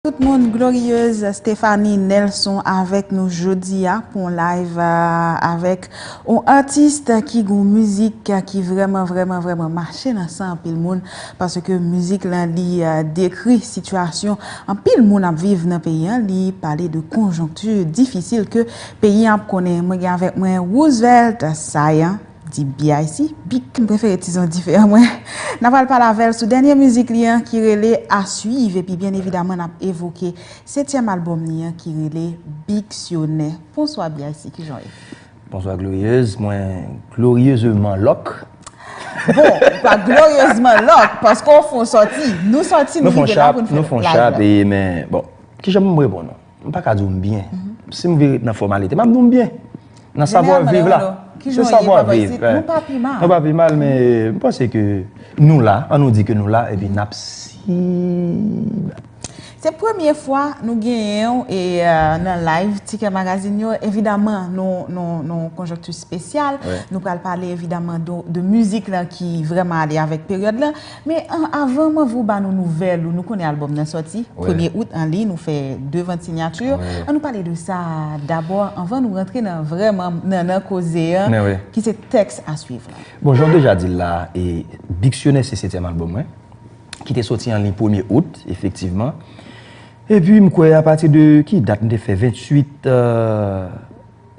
Tout moun glorieuse Stephanie Nelson avèk nou jodia pou yon live avèk yon artiste ki gen yon mizik ki vrèman vrèman vrèman mache nan san anpil moun paske mizik lan li dekri sitiyasyon anpil moun ap viv nan peyi an li pale de konjonkti difisil ke peyi an ap konnen mwen gen avèk mwen Roosevelt Saillant. Di BIC, Bic, m prefere tizon dife a mwen. N a pral pale avè l sou dènye mizik li an ki rele A Suivre epi byen evidaman n ap evoke setyèm albòm li an ki rele Bicsyonè. Bonswa BIC, kijan w ye? Bonswa Glorieuse, mwen glorieusement lock. Bon, ou pa glorieusement lock paske w fon sòti. Nou sòti, nou rive la pou n fè live la. Nou fon chap, nou fon chap, men bon, kijan pou m reponn ou? M pa ka di w m byen. Si m vle ret nan fòmalite, m ap di w m byen. Nan savwa viv la. Se savwa viv. Nou pa pi mal. Nou pa pi mal, men m panse ke nou la. An nou di ke nou la, epi n ap siy. Se premye fwa nou genyen w e nan live Tikè Magazine yo. Evidaman, nou konjonkti spesyal. Nou pral pale evidaman de mizik lan ki vreman ale avèk peryòd lan. Men avan Manvou ba nou nouvèl ou, nou konnen albòm nan sòti, premye out an liy nou fè 2 vant sinyati, an nou pale de sa dabò anvan nou rantre nan vrèman nannan koze an ki se tèks a swiv lan. Bon jan w deja di l la, Diksyonè se setyèm albòm mwen ki te sòti an liy premye out efektivman. Epi m kwè apati de ki dat m te fè 28.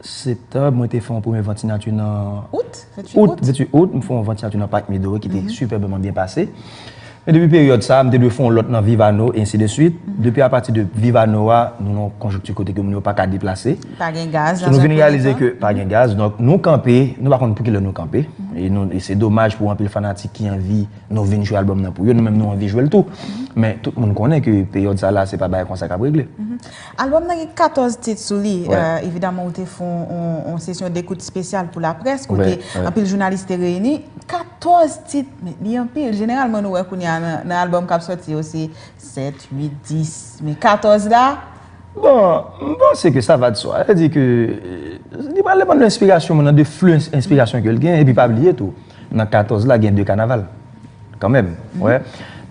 Septanb, mwen te fè yon premye vant sinati nan. Out? 28 out? Out, 28 out, m fè yon vant sinati nan Parc Midori ki te sipèbman byen pase. Men depi peryòd sa a, m te dwe fè yon lòt nan Vivano, e ensi de swit. Depi apati de Vivano a, nou nan yon konjonkti kote ke moun yo pa ka deplase. Pa gen gaz nan zòn kote sa. So nou vin reyalize ke pa gen gaz. Donk nou kanpe, nou pa konn pou ki lè nou kanpe. E nou, e se domaj pou anpil fanatik ki anvi nou vin jwe albòm nan pou yo. Nou menm nou anvi jwe l tou. Men tout moun konnen ke peryòd sa la se pa bagay konsa k ap regle. Albòm nan gen 14 tit sou li, evidaman ou te fon yon sesyon dekout spesyal pou laprès kote anpil jounalis te reyini, 14 tit men li anpil, jeneralman nou wè kounye a nan albòm kap sòti yo se 7, 8, 10 men 14 la. Bon, m panse ke sa va de swa, sa vle di ke li pral depann de enspirasyon moun nan, de flux enspirasyon ke l gen epi pa bliye tou. Nan 14 la gen 2 kanaval kanmenm ou wè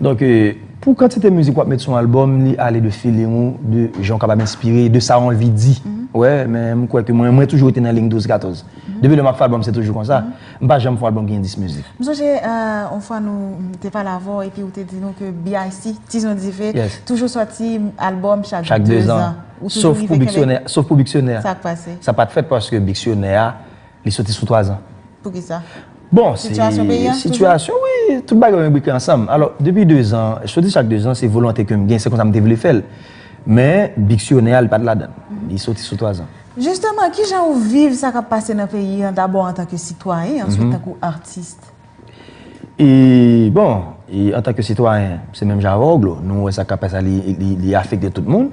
donk pou kantite mizik wap met sou yon album li ale de feeling ou de jan ou kapab enspire de sa ou anvi di ou wè men m kwè ke mwen mwen toujou rete nan ling 12 14 depi lè map fè album se toujou konsa m pa janm fè yon album ki gen 10 mizik. M sonje yon fwa nou te pale avè w epi ou te di nou ke BIC Tizon Dife toujou sòti album chak 2 zan ou toujou rive kenbe sof pou Biksyonè sa k pase sa pat fèt paske Biksyonè a Li soti sou 3 zan. Pou ki sa? Bon, se... Sitiyasyon peyi an? Sitiyasyon, wi. Tout bagay yo enbrike ansanm. Alò, depi 2 zan, soti chak 2 zan, se volonte ke m gen, se konsa m te vle fè l. Men, diksyonè a, li pa t ladan. Li soti sou 3 zan. Jisteman, ki jan ou viv sa k ap pase nan peyi an, dabò antanke sitwayen, answit tankou atis? E bon, e antan ke sitwayen, se menm jan avè'w Glo, nou wè sa k'ap pase la li afekte tout moun.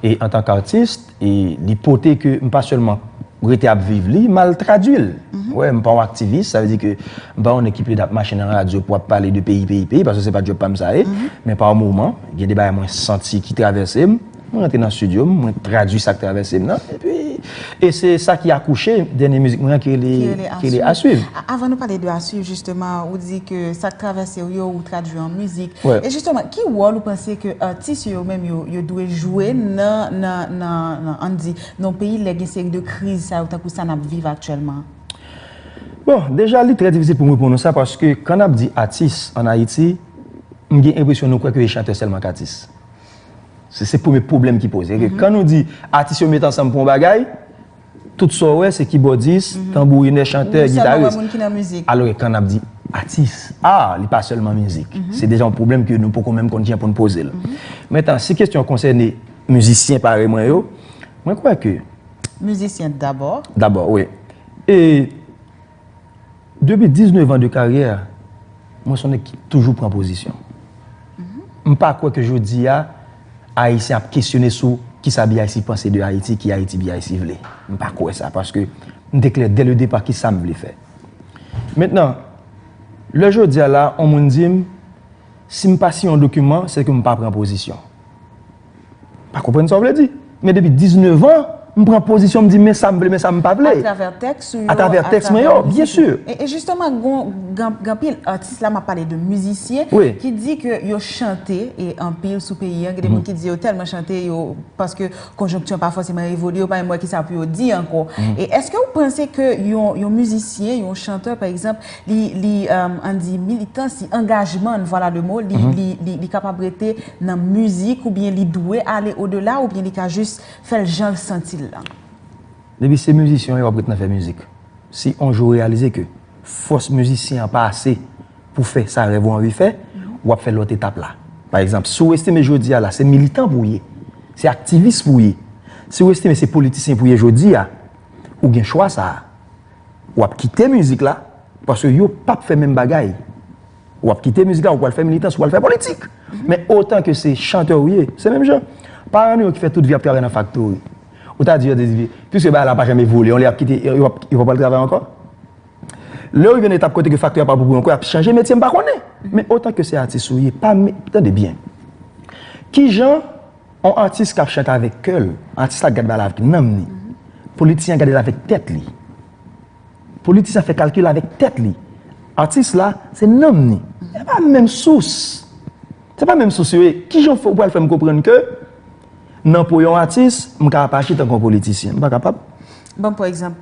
E antan k'artis, e li pote ke m pa sèlman rete ap viv li, m'al tradui'l. Ou wè, m pa yon aktivis, sa vle di ke m pa yon nèg ki plede ap mache nan radyo pou ap pale de peyi, peyi, peyi, paske se pa djòb pa'm sa ye. Men pa moman, gen de bagay mwen santi ki travèse'm. Mwen rantre nan studio m, mwen tradui sa k travèse m nan, epi, e se sa ki akouche dènye mizik mwen an ki rele, ki rele A Suiv. Avan nou pale de A Suiv jisteman, ou di ke sa k travèse w yo, ou tradui an mizik. E jisteman, ki wòl ou panse ke atis yo yo menm yo, yo dwe jwe nan, nan, nan, nan, ann di, nan yon peyi lè gen seri de kriz sa yo tankou sa n ap viv aktyèlman? Bon, deja li trè difisil pou m reponn ou sa paske kan n ap di atis ann Ayiti, m gen enpresyon nou kwè ke chantè sèlman k atis. Se premye pwoblèm ki poze. Kan nou di atis yo met ansanm pou yon bagay, tout sa w wè se kibòdis, tanbourinè, chantè, gitaris. Alò ke kan ap di atis, a, li pa sèlman mizik. Se deja yon pwoblèm ke nou poko menm konn kijan pou nou poze l. Mentan, si kesyon an konsène mizisyen parèy mwen yo, mwen kwè ke. Mizisyen dabò. Dabò, wi. E. Depi 19 ans de karyè, mwen son nèg ki toujou pran pozisyon. M pa kwè ke jodi a, Ayisyen ap kesyone sou ki sa BIC panse de Ayiti, ki Ayiti BIC vle. M pa kwè sa, paske m te klè dè le depa ki sa m vle fè. Mentnan, lè jodi a la, on moun di m, si m pa siyen on dokiman, se ke m pa pran pozisyon. Pa konprann sa w vle di. Men depi 19 an, m pran pozisyon m di men sa m vle men sa m pa vle. Atravè tèks ou yo. Atravè tèks mwen yo, byen si. E jisteman gen anpil atis la, m ap pale de mizisyen, ki di ke yo chante e anpil sou peyi an. Gen de moun ki di yo tèlman chante yo, paske konjonktyon pa fòseman evolye, yo pa menm wè ki sa pou yo di ankò. E eske ou panse ke yon mizisyen, yon chantè pa egzanp, Li, li, ann di militan, si angajman n, vwala le mo, li, li, li, li kapab rete nan mizik oubyen li dwe ale o dela oubyen li ka jis fè l jan l santi l lan? Depi se mizisyen w ye w ap ret nan fè mizik. Si on jou w reyalize ke fòs mizisyen an pa ase pou fè sa rèv ou anvi fè, w ap fè lòt etap la. Pa egzanp, si w estime jodi a la se militan pou w ye, se aktivis pou w ye, si w estime se politisyen pou w ye jodi a, ou gen chwa sa a. wap kite mizik la paske yo pap fè menm bagay wap kite mizik la ou pwal fè militans ou pwal fè politik men otan ke se chantè ou ye se menm jan paran nou yo ki fè tout vi ap travay nan faktori ou ta di yo di piske bagay la pa janm evolye yon lè yap kite yo pap yo pap al travay ankò lè ou rive nan etap kote ke faktori a pa pou ou ankò yap chanje metye m pa konnen men otan ke se atis ou ye pa men tande byen kijan. On atis kap chante avèk kè l, atis la gad bal avk nanm ni. Politisyen an gade l avèk tèt li. Politisyen an fè kalkil avèk tèt li. Atis la, se nanm ni. Se pa menm sous. Se pa menm sous yo ye. Ki jan ou pral fè m konprann ke nan po yon atis, m ka apache tankou yon politisyen? M pa kapab. Banm pwan egzanp,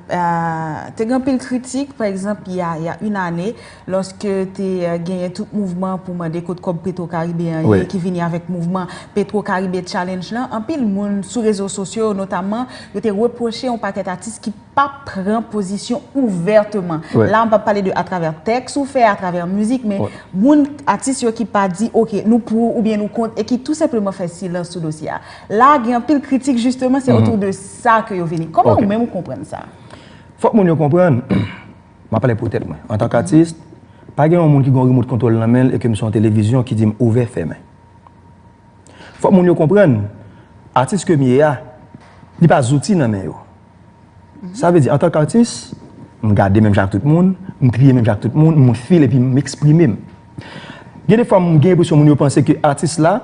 te gen anpil kritik, pa egzanp, y a yn ane, lòske te genyen tout mouvman pou mande kot kòb Petro Caribe an ye, ki vini avèk mouvman Petro Caribe Challenge lan, anpil moun sou rezo sosyo yo notamman, yo te repwoche yon pakèt atis ki pa pran pozisyon ouvèteman. La m pa pale de atravè tèks ou fè, atravè mizik, men moun, atis yo ki pa di, ok, nou pou oubyen nou kont, e ki tou senpleman fè silans sou dosye a. La gen anpil kritik jisteman se otou de sa ke yo vini. Koman ou menm ou konprann sa? Fòk moun yo konprann, m ap pale pou tèt mwen. Antank atis, pa gen yon moun ki gen yon remot kontwòl nan men l e ke m se yon televizyon ki di m ouvè, fèmen. Fòk moun yo konprann, atis ke m ye a, li pa zouti nan men yo. Sa vle di, antank atis, m gade menm jan ak tout moun, m kriye menm jan ak tout moun, m feel epi m eksprime m. Gen de fwa m gen enpresyon moun yo panse ke atis la,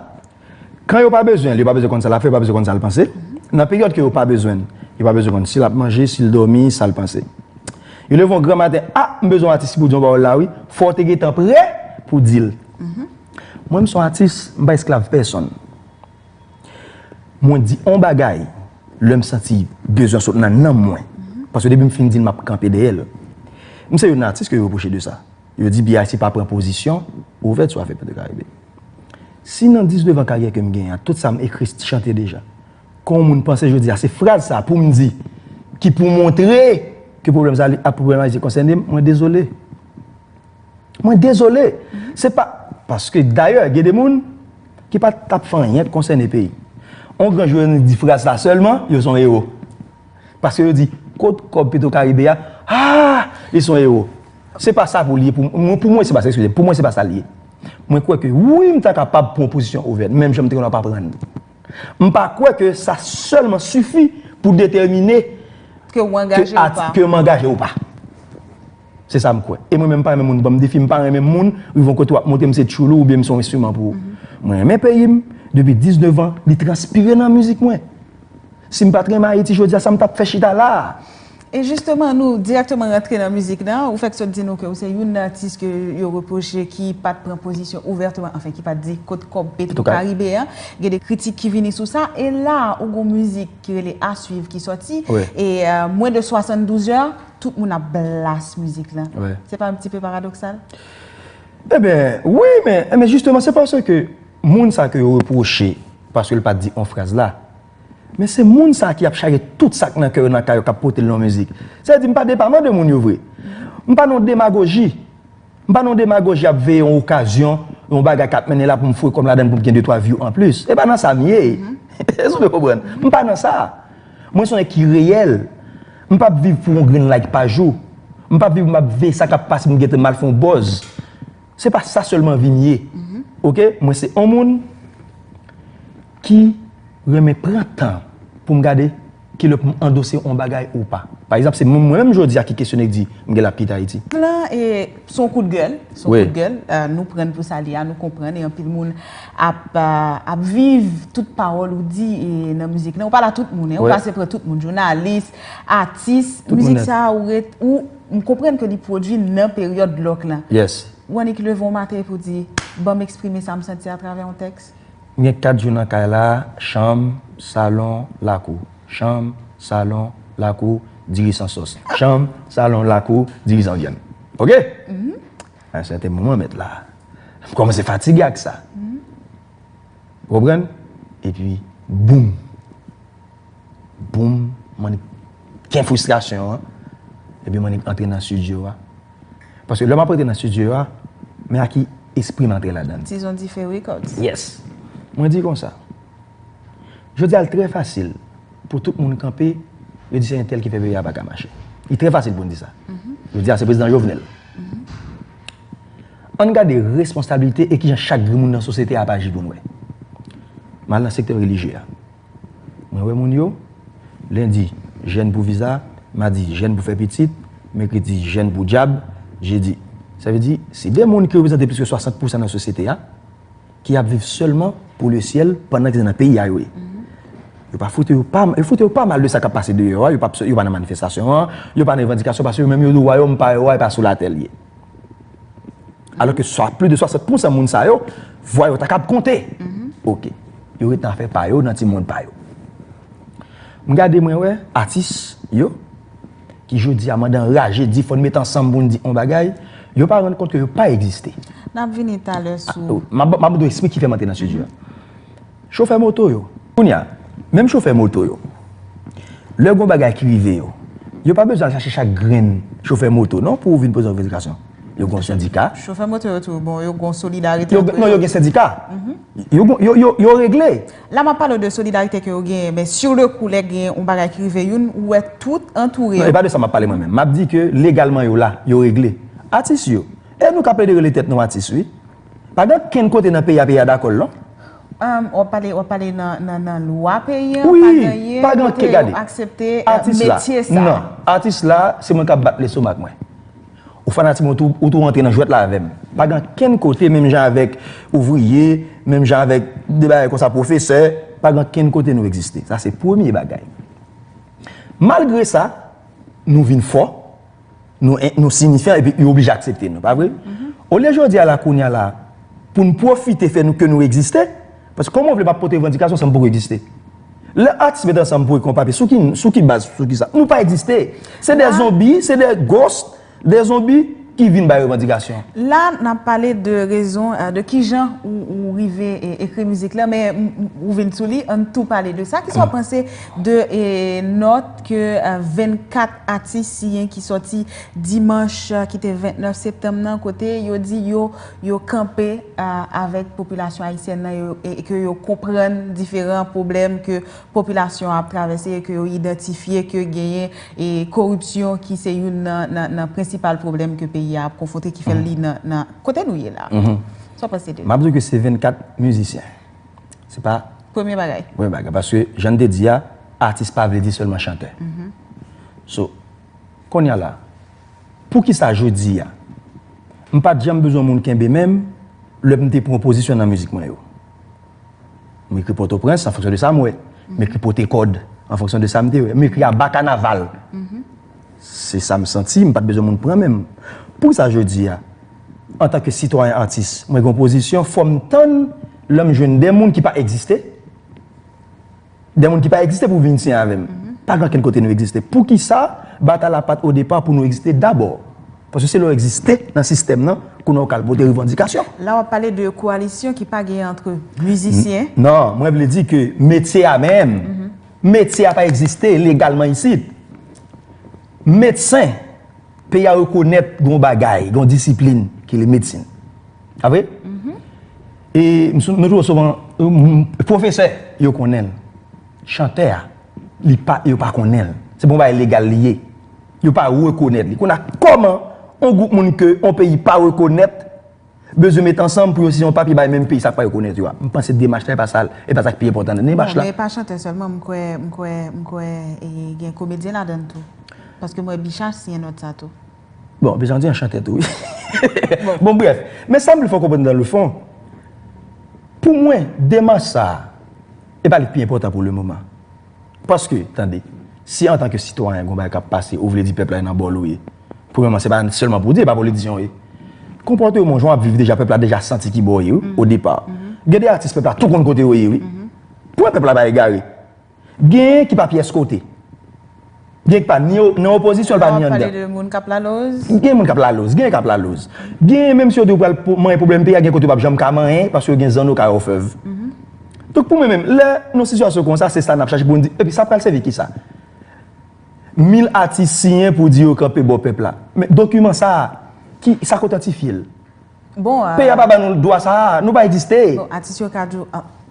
Kan yo pa bezwen l, yo pa bezwen konn sa l ap fè, yo pa bezwen konn sa l panse. Nan peryòd ke yo pa bezwen l, yo pa bezwen konn si l ap manje, si l dòmi, sa l panse. Yo leve yon gran maten, a, m bezwen yon atis ki pou di yon pawòl la wi, fò w te gentan prè pou di l. Mwen m s on atis, m pa esklav pèsonn. Mwen di on bagay lè m santi bezwen sot nan nanm mwen, paske depi m fin di l m ap kanpe dèyè l. M se youn nan atis ke yo repwoche de sa. Yo di BIC pa pran pozisyon ouvè sou afè Petro Caribe. Si nan 19 an karyè ke m genyen ak tout sa m ekri chante deja, kon moun panse jodi a se fraz sa pou m di ki pou montre ke pwoblèm sa a pwoblèm Ayiti konsène m, mwen dezole. Mwen dezole. Se pa, paske dayè gen de moun ki pa t ap fè anyen k konsène peyi. On gran jounalis di fraz sa sèlman, yo son ewo. Paske yo di, kot kòb Petro Caribe a, aa, li son ewo. Se pa sa pou li ye pou mwen, pou mwen se pa sa, ekskuze m, pou mwen se pa sa li ye. Mwen kwè ke wi m ta kapab pran pozisyon ouvèt, menm jan m te konn ap aprann. M pa kwè ke sa sèlman sifi pou detèmine Ke w angaje ou pa. ke m angaje ou pa. Se sa m kwè. E mwen menm m pa renmen moun ban m defi, m pa renmen moun rive yon kote w ap montre m se tchoulou oubyen m se yon enstriman pou ou. Mwen renmen peyi m, depi 19 an, li transpire nan mizik mwen. Si m pa t renmen Ayiti jodi a, sa m t ap fè chita la a? E jisteman nou dirèkteman rantre nan mizik nan, ou fèk sot di nou ke ou se youn nan atis ke yo repwoche ki pat pran pozisyon ouvèteman, anfen ki pat di kot kòb petro karibe an, gen de kritik ki vini sou sa, e la ou gon mizik ki rele A Suivre ki sòti, e mwen de 72 zè, tout moun ap blas mizik lan, se pa yon ti pe paradoksal? Eben, wi men, men jisteman se paske moun sa ke yo repwoche paske l pat di on fraz la. Men se moun sa ki ap chaje tout sak nan kè yo nan kay yo kap potel nan mizik. Sa vle di mpa depaman de moun yo vre. Mpa nan yon demagoji. Mpa nan yon demagoji ap veye yon okazyon, yon bagay kap mennen la poum foure kòm ladann poum gen 2 3 view anplis. Se pa nan sa mye. Èske ou konprann? Mpa nan sa. Mwen son nèg ki reyèl. Mpap viv pou yon grenn like pa jou. Mpap viv map veye sa kap pase poum gentan mal fè yon buzz. Se pa sa selman vim ye ok mwen se on moun ki renmen pran tan poum gade kilè poum andose on bagay ou pa pa egzanp se mwen menm jodia ki kesyone ki di m genlè ap kite ayiti. Plan e son kout gèl son kout gèl nou prann pou sa li ya nou konprann e anpil moun ap ap viv tout pawòl ou di e nan mizik lan ou pale a tout moun e ou pase pran tout moun jounalis atis mizik sa ou ret ou M konprann ke li pwodwi nan peryòd dlòk lan. Yes. Ou annik leve yon maten epi w di, ban m eksprime sa m santi atravè yon tèks? M gen 4 zo nan kay la, chanm, salon, lakou. Chanm, salon, lakou, diri san sòs. Chanm, salon, lakou, diri san vyann. Ok! A yon sèten moman mèt la, m kòmanse fatige ak sa. Ou konprann? Epi, boum! Boom, Manik gen fristrasyon an, epi Manik antre nan studio a. Paske lè map antre nan studio a, men a ki espri m antre ladan. Dizon Dife Records. Yes. Mwen di konsa, jodi a l trè fasil pou tout moun kanpe, yo di se entèl ki fè peyi a pa ka mache. Li trè fasil pou n di sa. Jodi a se Prezidan Jovenel. An n gade responsabilite e kijan chak grenn moun nan sosyete a ap aji pou n wè. M al nan sektè relijye a. Mwen wè moun yo, Lendi, Jèn pou viza, Madi, Jèn pou fè pitit, Mèkredi, Jèn pou djab, Jedi. Sa vle di, se de moun ki reprezante plis ke 60 pousan nan sosyete a, ki ap viv sèlman pou le syèl pandan ke se nan peyi a yo ye. Yo pa foute yo pa, yo foute yo pa mal de sa k ap pase deyò a, yo pa nan manifestasyon an, yo pa nan revandikasyon paske yo menm yo di wayòm pa yo a e pa sou latè li ye. Alò ke sa pli de 60 pousan moun sa yo, vwa yo ta kab konte. Ok. Yo ret nan afè pa yo, nan ti mond pa yo. M gade mwen wè atis yo, ki jodi a mande anraje di fòn met ansanm pou n di on bagay, yo pa rann kont ke yo pa egziste. N ap vini talè sou. M ap do esplike ki fè m antre nan sijè a. Chofè moto yo. Kounye a, menm chofè moto yo, lè gen yon bagay ki rive yo, yo pa bezwen al chache chak grenn chofè moto non pou vin poze revandikasyon. Yo gen yon sendika. Chofè moto yo tou, bon, yo gen yon solidarite antre yo. Non, yo gen sendika. Yo gen, yo regle. La m ap pale w de solidarite ke yo genyen, men sur le coup lè gen yon bagay ki rive youn, ou wè tout antoure yo. Non, e pa de sa m ap pale mwen menm. M ap di ke legalman yo la, yo regle. Atis yo, e nou ka plede rele tèt nou atis wi. Pa gen okenn kote nan peyi a peyi a dakò l non. Wap pale, wap pale nan nan lwa peyi an pa genyen kote yo aksepte metye sa. Non, atis la se mwen kap bat lestomak mwen. Ou fanatik mwen ou tou rantre nan jwèt la avè m. Pa gen okenn kote menm jan avèk ouvriye, menm jan avèk de bagay konsa pwofesè, pa gen okenn kote nou egziste. Sa se premye bagay. Malgre sa, nou vin fò. nou sinifyan epi yo oblije aksepte nou, pa vre? Olye jodi a la, kounye a la, pou n pwofite fè nou ke nou egziste, paske kòman w vle m ap pote revandikasyon san m poko egziste? Lè atis met ansanm pou ekon papye, sou ki, sou ki baz, sou ki sa? Nou pa egziste! Se de zonbi, se de ghost, de zonbi ki vin bay revandikasyon. La n ap pale de rezon, de ki jan ou rive ekri mizik la, men ou vin sou li, an n tou pale de sa. Kisa w panse de nòt ke 24. Atis siyen ki sòti dimanch ki te 29 septanm nan kote yo di yo yo kanpe avèk popilasyon ayisyèn nan e ke yo konprann diferan pwoblèm ke popilasyon an ap travèse e ke yo idantifye ke genyen e koripsyon ki se youn nan prensipal pwoblèm ke peyi a ap konfwonte ki fè li nan kote nou ye la. Sa w panse de li? M ap di w ke se 24 mizisyen. Se pa. Premye bagay. Premye bagay. Paske jan m te di a, atis pa vle di sèlman chantè. So, kounye a la, pou ki sa jodi a, m pa t janm bezwen moun kenbe men m lè m te pran pozisyon nan mizik mwen yo. M ekri Pòtoprens an fonksyon de sa m wè. M ekri Potekòd an fonksyon de sa m te wè. M ekri aba kanaval. Se sa m santi, m pa t bezwen moun pran men m. Poukisa jodi a, antanke sitwayen atis, mwen gen yon pozisyon, fò m tann lè m jwenn de moun ki pa egziste, de moun ki pa egziste pou vin siyen avè m? Pa gen okenn kote nou egziste. Poukisa batay la pa t odepa pou nou egziste dabò? Paske se lè w egziste nan sistèm nan kounye a w ka al pote revandikasyon. La w ap pale de koalisyon ki pa gen antre mizisyen? Non, mwen vle di ke metye a menm, Metye a pa egziste legalman isit. Medsen, peyi a rekonèt gen yon bagay, gen yon disiplin ki rele medsin. Pa vre? E nou toujou souvan, pwofesè, yo konnen l. Chantè a, li pa, yo pa konnen l. Se pa yon bagay legal li ye. Yo pa rekonèt li. Kounye a, kòman yon gwoup moun ke yon peyi pa rekonèt, bezwen met ansanm pou yo siyen yon papye bay menm peyi sa k pa rekonèt yo a. M panse demach la e pa sa l, e pa sa k pi enpòtan nan demach la. Non, men e pa chantè sèlman, m kwè, m kwè, m kwè e gen komedyen ladan l tou. Paske m wè Bicha siyen nòt sa tou. Bon, Bicha se yon chantè tou wi. Bon brèf, men sa m vle fè w konprann dan le fon, pou mwen demach sa a, e pa li k pi enpòtan pou le moman. Paske, tande, si antanke sitwayen gen yon bagay k ap pase ou vle di pèp la e nan bò l ou ye. Premyèman, se pa sèlman pou w di, e pa politisyen w ye. Konpòte w moun jan w ap viv deja, pèp la deja santi ki bò w ye wi, o depa. Gen de atis pèp la tou konn kote yo ye wi. Pou wè pèp la pa egare. Genyen ki pa pyès kote. Genyen ki pa ni nan opozisyon, li pa ni anndan. Lè w ap pale de moun k ap laloz. Gen moun k ap laloz. Genyen k ap laloz. Genyen menm si yo di yo pral manyen pwoblèm peyi a, gen kote yo p ap janm ka manyen paske yo gen zanno kay òfèv. Donk pou mwen menm, lè nan sitiyasyon konsa, se sa n ap chache pou n di, epi sa pral sèvi ki sa? 1000 atis siyen pou di yo kanpe bò pèp la. Men, dokiman sa a, ki, sa k otantifye l? Bon. Peyi a pa ba nou dwa sa a. Nou pa egziste. Bon, atis yo ka di w,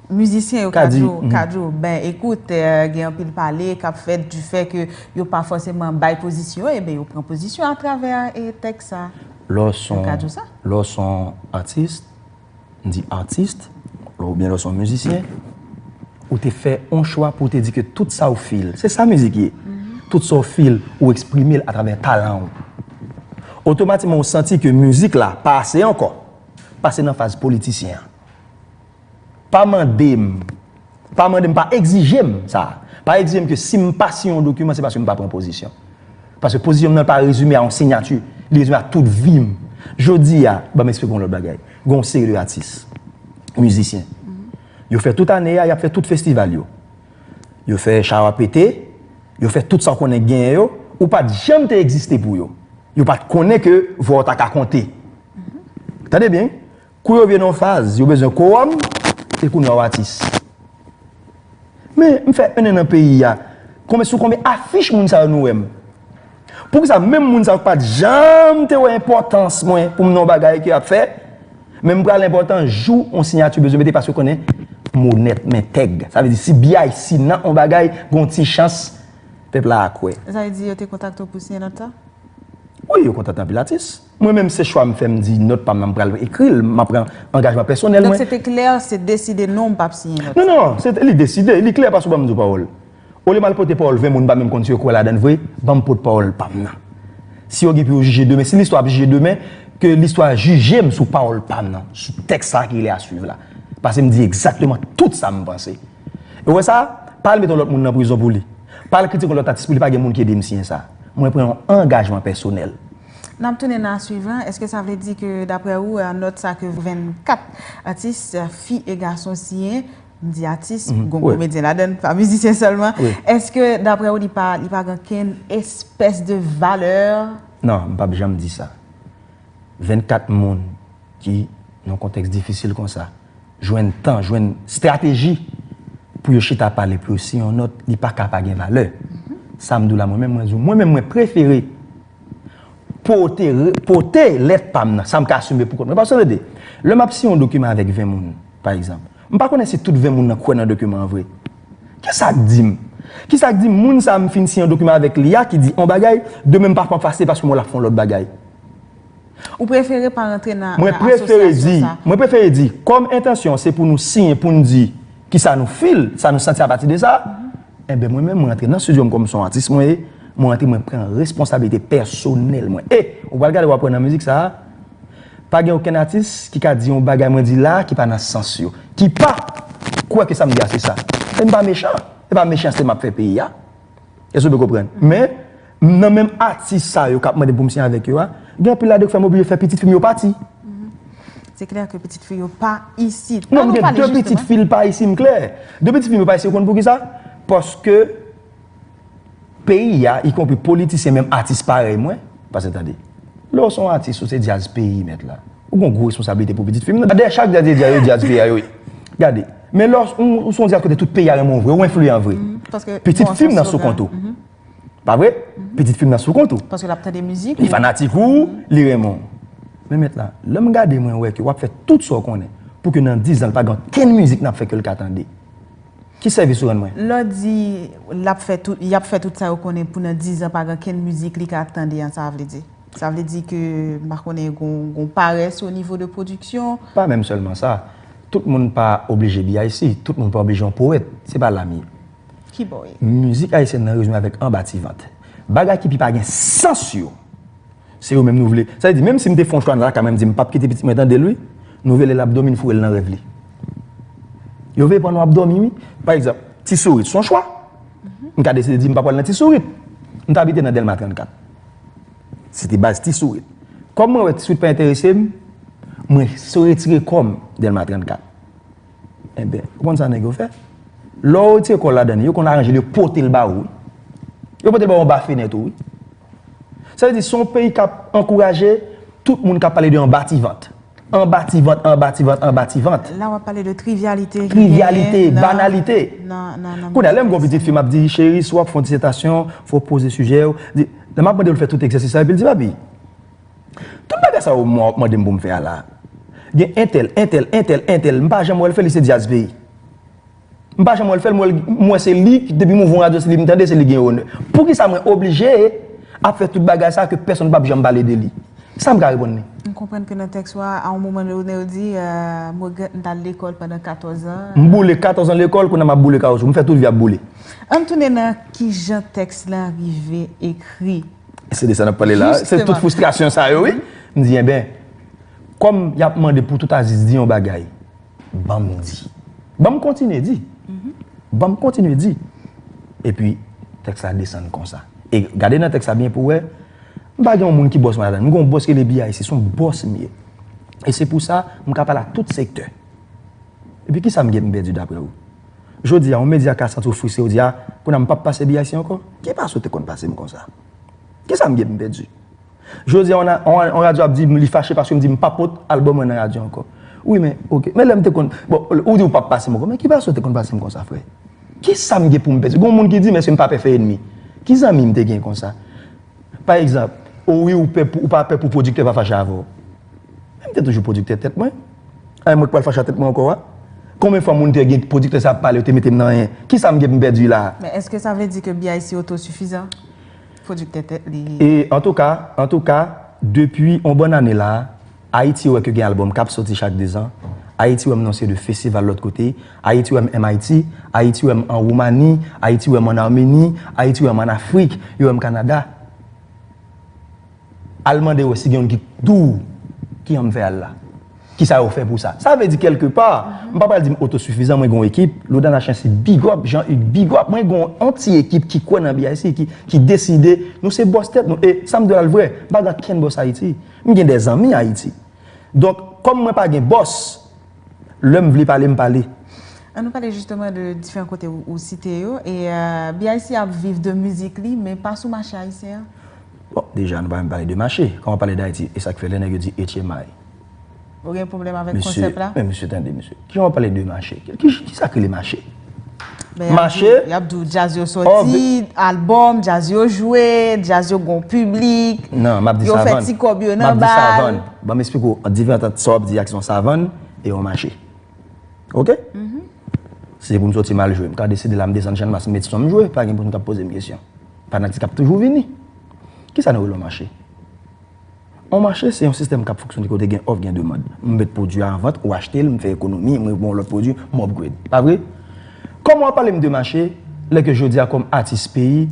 mizisyen yo ka di w, ka di w, ben, ekout, gen anpil pale k ap fèt di fè ke yo pa fòseman bay pozisyon yo, enben yo pran pozisyon atravè tèks sa. Lè w s on, lè w s on atis. m di artiste ou byen lè w se yon mizisyen ou te fè yon chwa pou w te di ke tout sa w feel se sa mizik ye tout sa w feel ou eksprime l atravè talan w otomatikman ou santi ke mizik la pa ase ankò pase nan faz politisyen an pa mande m Pa mande m, pa egzije m sa. Pa egzije m ke si m pa siyen yon dokiman se paske m pa pran pozisyon. Paske pozisyon m nan pa rezime a yon sinyati, li rezime a tout vi m. Jodi a, ban m esplike w yon lòt bagay. Gen yon seri de atis, mizisyen. Yo fè tout ane a, y ap fè tout festival yo. Yo fè chawa pete, yo fè tout sa w konnen genyen yo, ou pa t janm te egziste pou yo. Yo pa t konnen ke vwa w ta ka konte. Tande byen wi. Kou yo vye nan yon faz, yo bezwen kowòm, e kounye a w atis. Men, m fè enn an nan peyi a, konbe sou konbe afich moun sa yo nou wè m? Poukisa menm moun sa yo k pa t janm te wè enpòtans mwen pou m nan yon bagay ke y ap fè, men m pral enpòtan jou yon siyati bezwen mete paske yo konnen m onèt, m entèg. Sa vle di si bgy, si nan yon bagay gen yon ti chans, pèp la a kwè. Sa vle di yo te kontakte w pou w siyen nan ta? Wi, yo kontakte anpil atis. Mwen menm se chwa m fè m di nòt pa m nan m pral ekri l, m ap pran angajman pèsonèl mwen. Donk se te klè, se deside non ou pa p siyen nòt sa? Non, non, se te li deside, li klè paske w pa m di w pawòl. Olye m al pote pawòl 20 moun m pa menm konn si yo kwè ladan l vre, ban m pot pawòl pa m nan. Si yo gen pou yo jije demen, si listwa ap jije demen, ke listwa jije m sou pawòl pa m nan, sou tèks sa a ki rele Aswiv la. Paske m di egzakteman tout sa m panse. E w wè sa, pa al met yon lòt moun nan prizon pou li, pa al kritike yon lòt atis pou li pa gen moun ki ede m siyen sa. Mwen pran yon angajman pèsonèl. N ap tounen nan aswiv lan. Eske sa vle di ke daprè ou nòt sa ke 24 atis fi e gason siyen, m di atis, gon komedyen ladann, pa mizisyen sèlman, eske daprè ou li pa gen okenn espès de valè? Non, m p ap janm di sa. 24 moun ki nan kontèks difisil konsa, jwenn tan, jwenn strateji pou yo chita pale pou yo siyen yon nòt, li pa ka pa gen valè. Sa m di w la mwen menm, mwen di w, mwen menm mwen prefere pote, pote lèt pa m nan, sa m ka asime pou kont mwen. Paske w tande, lè m ap siyen yon dokiman avèk 20 moun, pa egzanp, m pa konnen si tout 20 moun nan kwè nan dokiman an vre. Ki sa k di m? Ki sa k di m moun sa a m fin siyen yon dokiman avèk li a ki di yon bagay, demen m pa konn fase paske m wè l ap fè yon lòt bagay? Ou prefere pa rantre nan asosyasyon sa? Mwen prefere di, kòm entansyon an se pou nou siyen pou n di ki sa nou feel, sa nou santi apati de sa, enben mwen menm mwen rantre nan studio m kòm son atis mwen ye, mwen rantre mwen pran responsabilite pèsonèl mwen. E, ou pral gade wap wè nan mizik sa, pa gen okenn atis ki ka di yon bagay mwen di la ki pa nan sans yo, ki pa kwè ke sa m di a se sa. E m pa mechan, e pa mechanste map fè peyi a. Èske w te konprann? Men, nan menm atis sa yo k ap mande m pou m siyen avèk yo a, gen anpil ladan yo k fè m oblije fè pitit fi m yo pati. Se klè ke pitit fi yo pa isit. An nou pale jisteman. Non, m gen de pitit fi l pa isit, m klè. De pitit fi m yo pa isit, ou konn poukisa? Paske peyi a, ikonpri politisyen menm atis parèy mwen, paske tande, lè w se yon atis, ou se djaz peyi mèt la. Ou gon gwo responsablite pou pitit fi m nan. Dayè chak dyaz ye dyaz yo dyaz peyi a yo ye. Gade. Men lè ou son dyaz kote tout peyi a renmen w vre ou enfliyan vre. Pitit fi m nan sou kont ou. Pa vre? Pitit fi m nan sou kont ou. Paske l ap tande mizik ou. Li fanatik ou, li renmen w. Men mèt la, lè m gade mwen wè ke w ap fè tout sa w konnen pou ke nan dizan l pa gen okenn mizik nan ap fè ke l ka tande. Ki sèvis ou rann mwen? Lè w di l ap fè tout, y ap fè tout sa yo konnen pou nan dizan pa gen okenn mizik li ka tande an sa vle di? Sa vle di ke m pa konnen gon parès o nivo de pwodiksyon? Pa menm sèlman sa. Tout moun pa oblije BIC. Tout moun pa oblije yon powèt. Se pa la m ye. Ki bò w ye? Mizik ayisyèn nan rezime avèk anba ti vant. Bagay ki pi pa gen sans yo, se yo menm nou vle. Sa vle di menm si m te fè yon chwa nan lakay mwen m di m pap kite pitit mwen tande l wi, nou vle lè l ap dòmi n foure l nan rèv li. Yo veye pandan w ap dòmi wi. Pa egzanp, Ti Sourit s on chwa. M ka deside di m pa pral nan Ti Sourit. M ta abite nan Dèlma 34. Se te baz ti sourit. Kòm mwen wè ti sourit pa enterese m, mwen retire kò m Dèlma 34. Enben, ou konn sa nèg yo fè? Lè w retire kò w ladan li, yo konn aranje l, yo pote l ba ou wi. Yo pote l ba ou anba fenèt ou wi. Sa vle di se yon peyi k ap ankouraje tout moun k ap pale de anbativant. Anba ti vant, anba ti vant, anba ti vant. La w ap pale de trivyalite ki genyen nan. Trivyalite, banalite. Kounye a, lè m gen yon pitit fi, m ap di, cheri, si w ap fè yon disetasyon, fò w poze sijè yo. Lè m ap mande l fè tout egzèsis sa yo, epi l di, papi, tout bagay sa yo mwen w ap mande m pou m fè a la, gen entèl, entèl, entèl, entèl, m pa janm wè l fè li, se dyaz peyi. M pa janm wè l fè l, m wè se li ki depi m ouvri yon radyo se li m tande, se li ki gen onè. Poukisa mwen oblije ap fè tout bagay sa ke pèsonn pap janm pale de li? Sa m ka reponn li? M konprann ke nan tèks ou a, a yon moman donne ou di, M regrèt m t al lekòl pandan 14 an. M boule 14 an lekòl, kounye a m ap boule kawoutchou. M fè tout vi a ap boule. An n tounen nan kijan tèks lan rive ekri. Se de sa n ap pale la a. Se tout fristrasyon sa yo wi. M di enben, kòm y ap mande pou tout Aziz di yon bagay. Ban m di. Ban m kontinye di. Ban m kontinye di. Epi, tèks la desann konsa. E gade nan tèks la byen pou wè, m pa gen yon moun ki bòs mwen ladan l. M gen yon bòs ki rele BIC. Se yon bòs m ye. E se pou sa, m ka pale ak tout sektè. Epi kisa m gen pou m pèdi daprè ou? Jodi a, yon medya ka santi yo fristre, yo di a, kounye a m pap pase BIC ankò? Ki pase ou te konn pase m konsa? Kisa m gen pou m pèdi? Jodi a yon radyo ap di m li fache paske m di m pa pot album mwen nan radyo ankò. Wi men ok, men lè m te konn, bon ou di ou pap pase m ankò men ki fason ou te konn pase m konsa frè? Kisa m gen pou m pèdi? Gon moun ki di m èske m pa pè fè enmi? Ki zanmi m te gen konsa? Pa egzanp, o wi ou pè pou ou pa pè pou pwodiktè pa fache avè w. Men m te toujou pwodiktè tèt mwen. An e mwen k pral fache a tèt mwen ankò a? Konbyen fwa moun te gen pwodiktè sa ap pale yo te mete m nan anyen? Kisa m gen pou m pèdi la a? Men èske sa vle di ke BIC otosifizan? Producteur tèt li. E antouka, antouka, depi on bòn ane la, Ayiti wè ke gen album kap soti chak 2 zan, Ayiti wè m nan se de festival lòt kote, Ayiti wè m MIT, Ayiti wè m an Woumani, Ayiti wè m an Armeni, Ayiti wè m an Afrik, yo wè m Kanada. Al mande wè si gen youn ki k di w ki an m fè al la. Ki sa yo fè pou sa? Sa vle di kèlke pa, m pa pral di m otosifizan, mwen gen yon ekip, Lodana Chancy big up, Jean Hugues big up, mwen gen yon ti ekip ki kwè nan BIC, ki deside nou se bòs tèt nou e sa m di w la l vrè, m pa gen ankenn bòs Ayiti. M gen de zanmi Ayiti. Donk, kòm mwen pa gen bòs, lè m vle pale, m pale. An nou pale jisteman de diferan kote ou site yo e BIC ap viv de mizik li men pa sou mache ayisyen an? Bon, deja nou pa menm pale de mache, kòm w ap pale d'Ayiti, e sa k fè lè nèg yo di etchemay? Ou gen pwoblèm avèk konsèp la? Mesye, men mesye tande mesye. Ki lè wap pale de mache? Ki sa ki rele mache? Mache? Yap di w djaz yo soti, albòm, djaz yo jwe, djaz yo gon piblik. Nan, map di savann. Yo fè ti kòb yo nan bal. Map di savann. Ban m esplike w an diferans ant sa wap di a ki son savann e yon mache. Ok? Mh. Si se pou m soti mal jwe, m ka deside la m desann channmas m met son m jwe, pa gen moun kap poze m kesyon. Fanatik ap toujou vini. Ki sa nou rele yon mache? On mache se yon sistèm k ap fonksyone kote gen òf gen demand. M met pwodui a an vant, ou achte l, m fè ekonomi, mwen gen yon lòt pwodui, m upgrade. Pa vre? Kòman w ap pale m de mache lè ke jodi a kòm atis peyi,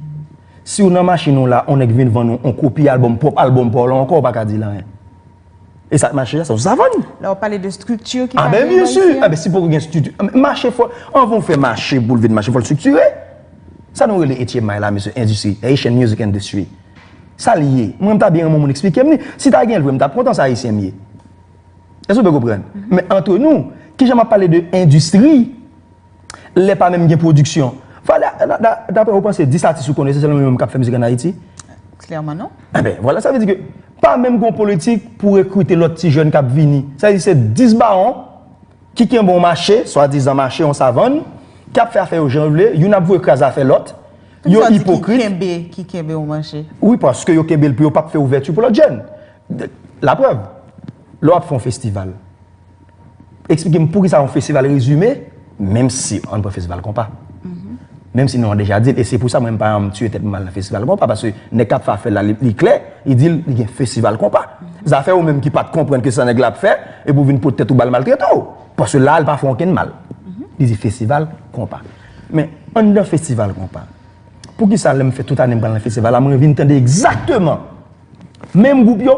si w nan machin ou la, on nèg vin vann ou on kopi albòm, pwòp albòm pa w lan ankò, ou pa ka di l anyen. E sa k mache a, se yon savann! La w ap pale de strikti ki pa gen an Ayiti a. A ben byen si! A ben si poko gen strikti, a men mache fò, anvan w fè mache pou l vin mache fò l striktire. Sa nou rele etye may la mesye, endistri, Haitian Music Industry. Sa l ye? Mwen m ta byen renmen yon moun eksplike m li. Si ta gen l vre, m t ap kontan sa Ayisyen m ye. Èske w byen konprann? Men antre nou, ki jan m ap pale de endistri lè pa menm gen pwodiksyon? Valè Daprè ou panse 10 atis ou konnen se sèlman yo menm k ap fè mizik ann Ayiti? Klèman non. Enben, vwala. Sa vle di ke pa menm gen yon politik pou rekrite lòt ti jèn k ap vini. Sa vle di se 10 bawon ki kenbe yon mache, swadizan mache, yon savann, k ap fè afè yo jan yo vle, youn ap voye kraze afè lòt. Yo ipokrit. Ki kenbe ou manje. Wi paske yo kenbe l pou yo pap fè ouvèti pou lòt jèn. La prèv, lè w ap fè yon festival, eksplike m poukisa yon festival rezime, menm si an pran festival konpa. Menm si non an deja di l e se pou sa mwen m pa janm tiye tèt m mal nan festival konpa paske nèg k ap fè afè l la li klè, li di l li gen festival konpa. Zafè ou menm ki pat konprann ke sa nèg la ap fè epi w vin pot tèt ou ba l maltrete w. Paske la l pa fè w okenn mal. Li di festival konpa. Men, anndan festival konpa, poukisa lè m fè tout ane m pral nan festival la, m revin tande egzakteman menm gwoup yo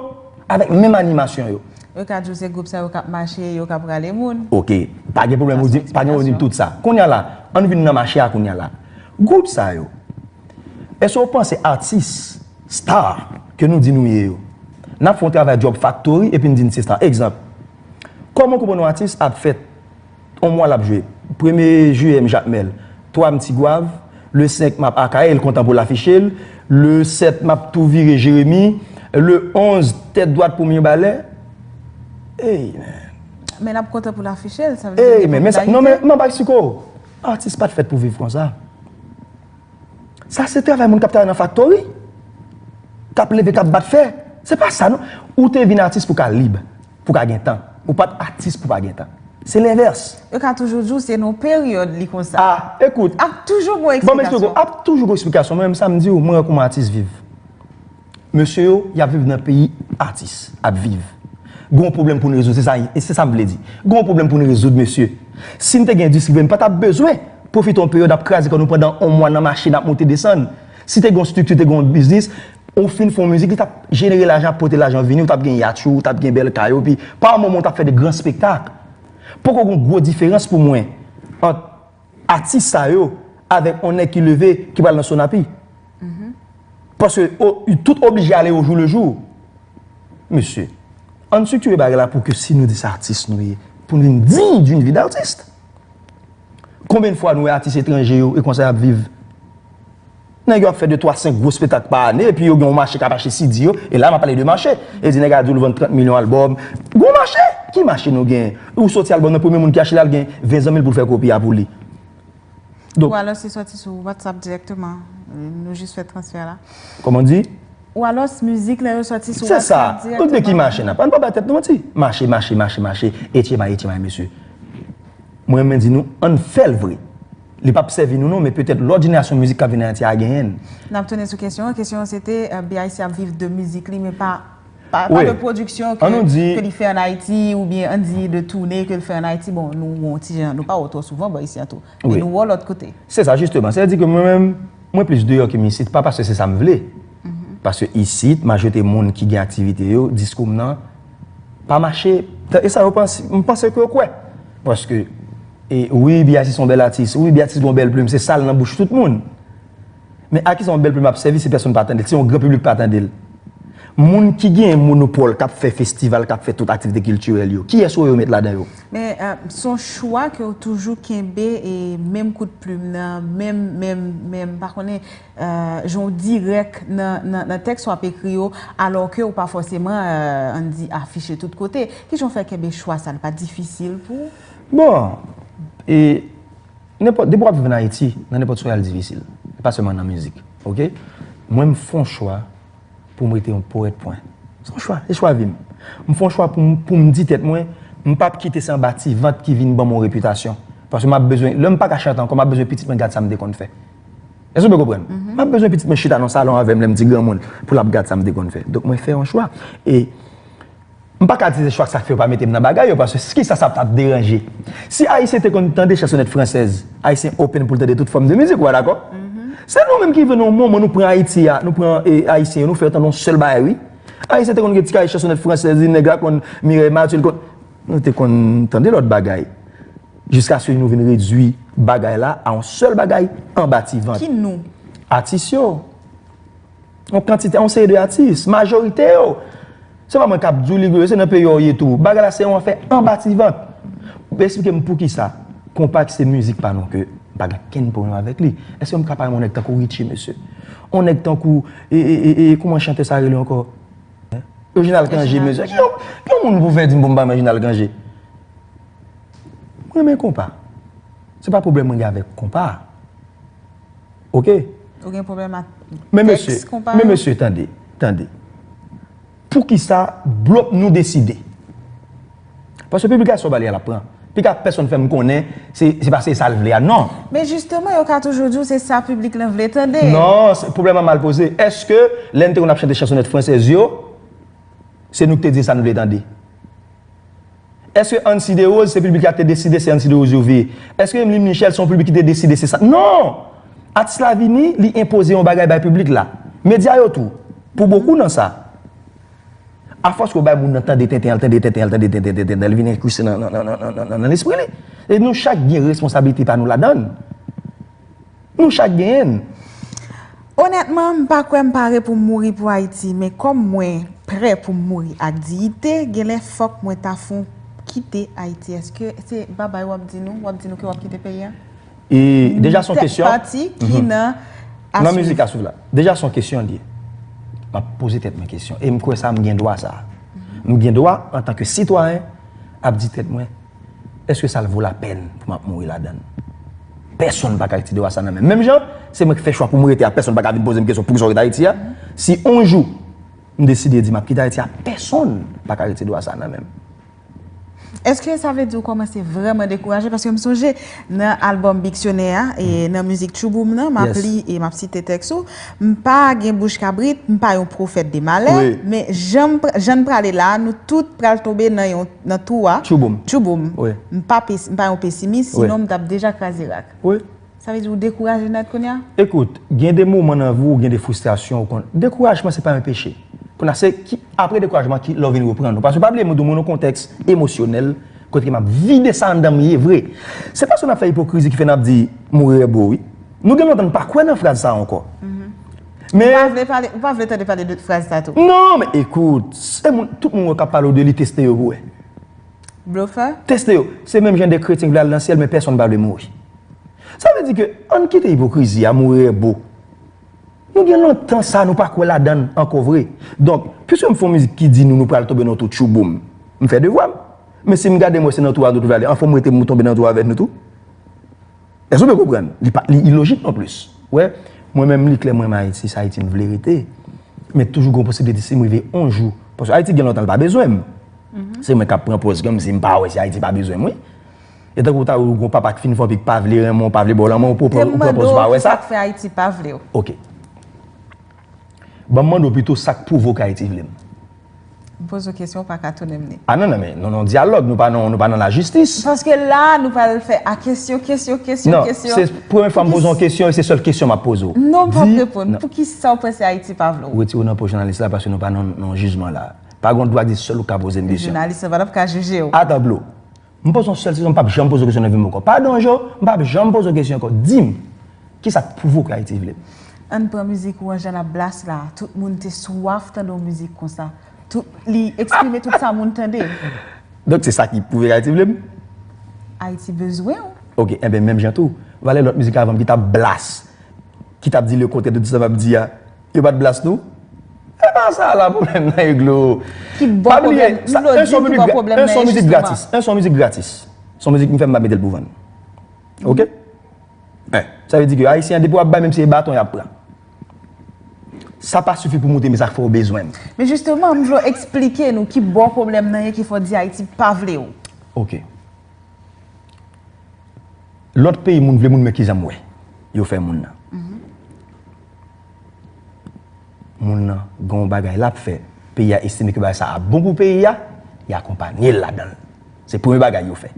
avèk menm animasyon yo? Yo ka di w se gwoup sa yo k ap mache, yo k ap rale moun. Ok, pa gen pwoblèm, ou di m, pa gen pwoblèm tout sa. Kounye a la, ann vin nan mache a kounye a la. Gwoup sa yo, èske ou panse atis, star, ke nou di nou ye yo, n ap fè yon travay Job Factory epi n di n se star? Egzanp, kòman w konprann yon atis ap fèt? On mwa l ap jwe. Premye jiyè m Jakmèl. Twa m Tigwav. Le 5 m ap Akayè, l kontan pou l afiche l. Le 7 m ap tou vire Jeremi. Le 11 tèt dwat pou Mirebalè. Ey men! Men l ap kontan pou l afiche l, sa vle di l gen popilarite. Non men, map bay siko w. Atis pa t fèt pou viv konsa. Sa se travay moun k ap travay nan faktori, k ap leve, k ap bat fè. Se pa sa non. Ou te vin atis pou w ka lib. pou ka gen tan. Ou pat atis pou pa gen tan. Se lenvès. Yo ka toujou di w se nan yon peryòd li konsa. A, ekout. Ap toujou gon eksplikasyon. Banm eksplike w. Ap toujou gon eksplikasyon. Mwen menm sa m di w, mwen wè kouman atis viv. Mesye yo, y ap viv nan peyi atis ap viv. Gen yon pwoblèm pou n rezoud. Se sa m vle di. Gen yon pwoblèm pou n rezoud mesye. Si n te gen endistri peyi, n pa t ap bezwen pwofite yon peryòd ap kraze kò nou pandan yon mwa nan machin ap monte desann. Si te gen yon strikti, te gen yon biznis, ou fin fè yon mizik, li t ap jenere lajan, pote lajan vini, ou t ap gen yatch ou, ou t ap gen bèl kay ou, epi pa yon moman ou t ap fè de gran spektak. Poko gen yon gwo diferans pou mwen ant atis sa yo avèk yon nèg ki leve ki pral nan Sonapi. Paske yo tout oblije ale o jou le jou. Mesye, ann striktire bagay la pou ke si nou di se atis nou ye, pou nou vin diy d'une vie d'artiste. Konbyn fwa nou wè atis etranje yo e konsa yap viv? Nèg yo ap fè de twa senk gwo spetak pa ane epi yo gen yon mache kap achte CD yo e la map pale de mache e di nèg a dul vann 30 milyon album Gwo mache! Ki mache nou genyen? Ou soti album nan premye moun ki achte lal gen 20 zanmil poul fè kopi a pou li. Donk. Ou alò se soti sou WhatsApp direkteman nou jis fè transfè la? Kòman ou di? Ou alòs mizik lè yo sòti sou whatsapp direkteman. Se sa, tout de ki mache nap, an pa bay tèt nou manti, mache, mache, mache, mache, etchema, etchema mesye. Mwen renmen di nou, an fèl vre. Li pap sèvi nou non, men petèt lòt jenerasyon mizik kap vini Ayiti a genyen. Nap tounen sou kesyon an, kesyon an se te BIC ap viv de mizik li men pa de pwodiksyon ke li fè an Ayiti ou byen an di de toune ke li fè an Ayiti, bon nou wè yon ti jan, nou pa wè w twò souvan bò isi an tou, men nou wè w lòt kote. Se sa jisteman, se di ke mwen menm. Mwen plis deyò ke m isit, pa paske se sa m vle, paske isit, majorite moun ki gen aktivite yo, diskou m nan pa mache, e sa yo panse, m panse ke yo kwè. Paske, wi Biati se yon bèl atis, wi Biati gen yon bèl plim, se sa l nan bouch tout moun. Men a ki sa yon bèl plim ap sèvi si pèsonn pa tande l, si yon gran piblik pa tande l? Moun ki gen monopòl k ap fè festival, k ap fè tout aktivite kiltirèl yo, kiyès yo yo met ladan yo? Men son chwa ke ou toujou kenbe e menm kout plum nan, menm, menm, menm, pa konnen, jan ou dirèk nan tèks wap ekri yo, alò ke ou pa fòseman, an n di, afiche tout kote. Ki jan ou fè kenbe chwa sa? Li pa difisil pou ou? Bon, e, nenpòt, depi wap viv an Ayiti, nan nenpòt chwa al difisil. Pa sèlman nan mizik. Ok? Mwen m fon chwa. pou m rete yon powèt pwen. Se yon chwa, se chwa vi m. M fè yon chwa pou m di tèt mwen, m p ap kite se anba ti vant ki vin ban m yon repitasyon. Paske m ap bezwen, lè m pa ka chante ankò, m ap bezwen pitit mwen gad sa m te konn fè. Èske w byen konprann? M ap bezwen pitit mwen chita nan salon avè m lè m ti granmoun pou l ap gad sa m te konn fè. Donk mwen fè yon chwa. E. M pa ka di se chwa sa k fè yo pa mete m nan bagay yo paske ki sa sa t ap deranje? Si Ayisyen te konn tande chansonèt fransèz, Ayisyen open pou l tande tout fòm de mizik, ou pa dakò? Se nou menm ki vin yon moman nou pran Ayiti a, nou pran Ayisyen yo, nou fè yo tande yon sèl bagay wi. Ayisyen te konn gen ti kaye chansonèt fransèz li, nèg la konn Mireille Mathieu, li konn. Nou te konn tande lòt bagay. Jiskaske nou vin redui bagay la a yon sèl bagay anba ti vant. Ki nou? Atis yo. Yon kantite, yon seri de atis, majorite yo, se pa mwen k ap di w li gwo, se nan peyi w ye tou. Bagay la se yon afè anba ti vant. Esplike m poukisa konpa ki se mizik pa nou ke m pa gen okenn pwoblèm avèk li. Èske m ka pale yon nèg tankou Ritchie mesye? Yon nèg tankou e, e, e, e, kouman chantè sa rele ankò? Reginald Cangé mesye. Ki yon, ki yon moun pou fè di m pou m pa renmen Reginald Cangé? Mwen renmen konpa. Se pa pwoblèm mwen gen avèk konpa. Ok. Ou gen pwoblèm ak tèks konpa yo? Men mesye, tande, tande. Poukisa blop nou deside? Paske piblikasyon w ba li a l ap pran. Pi ka pèsonn fè m konnen se pa se sa l vle a. Non! Men jisteman yo ka toujou di w se sa piblik lan vle tande. Non! Pwoblèm lan mal poze. Eske lè n te konn ap chante chansonèt fransèz yo, se nou k te di sa n vle tande? Eske Ancy Derose se piblik la te deside se Ancy Derose yo veye? Eske Emeline Michel se yon piblik ki te deside se sa? Non! Atis la vini, li enpoze yon bagay bay piblik la. Medya yo tou, pou bokou nan sa. Afòs ke w bay moun nan tande tenten, al tande tenten, al tande tenten, tenten, tenten, li vin enkriste nan lespri li. E nou chak gen responsabilite pa nou ladann. Nou chak genyen l. Onètman, m pa kwè m pare pou m mouri pou Ayiti, men kòm mwen prè pou m mouri ak diyite, genlè fòk mwen ta fon kite Ayiti. Èske se babay w ap di nou? W ap di nou ke w ap kite peyi a? Deja s on kesyon. Tèt pati ki nan A Nan mizik A Swiv la. Deja s on kesyon li ye. M ap poze tèt mwen kesyon e m kwè sa m gen dwa sa a. M gen dwa antanke sitwayen ap di tèt mwen Eske sa l vo lapèn pou m ap mouri ladan l? Pèsonn pa ka rete dwa sa nan men m. Menm jan se mwen ki fè chwa pou m rete a, pèsonn pa ka vin poze m kesyon poukisa w rete Ayiti a. Si on jou m deside di m ap kite Ayiti a, pèsonn pa ka rete dwa sa nan men m. Eske sa vle di ou kòmanse vrèman dekouraje? Paske m sonje. Nan albòm Biksyonè a, nan mizik Tchou Boum nan, m ap li e m ap site tèks ou, M pa gen bouch kabrit, m pa yon pwofèt de malè, men jan n prale la a, nou tout pral tonbe nan twou a, Tchou Boum, m pa yon pesimis, sinon m t ap deja kraze rak. Sa vle di ou dekouraje nèt kounye a? Ekout, gen de moman nan vi w, gen de fristrasyon, dekourajman se pa yon peche. Kounye a se apre dekourajman lè w vin reprann ou. Paske pa bliye m dou moun yon kontèks emosyonèl. Kote map vide sa anndan m ye vre. Se paske nap fè ipokrizi ki fè nap di mourir est beau wi. Nou gen lontan nou pa kwè nan fraz sa ankò. Men. Ou pa vle tande pale de fraz sa tou. Non men ekout, se moun, tout moun wè kap pale w de li teste yo pou wè. Blofè? Teste yo. Se menm jan de kretyen ki vle al nan syèl men pèsonn pa vle mouri. Sa vle di ke ann kite ipokrizi a mourir est beau. Nou gen lontan sa nou pa kwè ladann ankò vre. Donk, piske m fè yon mizik ki di nou nou pral tonbe nan twou tchouboum, m fè devwa m. Men si m gade m wè se nan twou a nou twouve ale, anfen m rete m tonbe nan twou avèk nou tou. Èske w byen konprann? Li pa, li ilojik nonplis. Ou wè, mwen menm li klè m renmen Ayiti, se Ayiti m vle rete. Men toujou gen yon posibilite si m rive yon jou, paske Ayiti gen lontan li pa bezwen m. Se mwen k ap pran pòz kòmsi m pa wè si Ayiti pa bezwen mwen. E tankou ou ta wè ou gon papa k fin fò pi k pa vle renmen w, pa vle ba w lanmou, ou pran pòz ou pa wè sa? Ok. Ban m mande w pito sa k pwouve w k Ayiti vle m? M poze w kesyon ou pa ka tounen m li. A non non men, nou nan yon dyalòg, nou pa nan nou pa nan lajistis. Paske la a nou pral fè a kesyon, kesyon, kesyon, kesyon. Non, se premye fwa m poze w yon kesyon e se sèl kesyon m ap poze w. Non, m ap reponn. Poukisa ou panse Ayiti pa vle w? Wetire w nan po jounalis la paske nou pa nan yon jijman la a. Pa gen yon dwa di sèl ou k ka poze m kesyon. Jounalis la pa t ap ka jije w. Ata dlo. M poze yon sèl sezon m pap janm poze w kesyon nan vi m ankò. Padon Jo, m pap janm poze w kesyon ankò. Di m, kisa k pwouve w k Ayiti vle m? Ann pran mizik ou an Jean ap blast la. Tout moun te swaf tande yon mizik konsa. Tout, li eksprime tout sa moun tande. Donk se sa ki pwouve k Ayiti vle m? Ayiti bezwen w. Ok, enben menm jan tou, valè lòt mizik avan m ki t ap blast, ki t ap di le kontrè de tout sa m ap di a. Yo pat blast nou? Epa sa la pwoblèm nan e glo. Ki bon Pa bliye pwoblèm, sa Glo un di son ki mizik bon pwoblèm un nan son e mizik jisteman. gratis, un son mizik gratis. Son mizik m fè m pa metel pou vann. Ok? Un, sa vle di ke ayisyen an depi wap bay menm si e baton yap pran. Sa pa sifi pou moute men sa fè w bezwen m. Men jisteman m vle w esplike nou ki bò pwoblèm nan ye ki fè w di Ayiti pa vle w. Ok. Lòt peyi moun vle moun men kijan m wè yo fè moun nan. moun nan gen yon bagay l ap fè, peyi a estime ke bagay sa ap bon pou peyi a, y akonpanye l ladan l. Se premye bagay yo fè.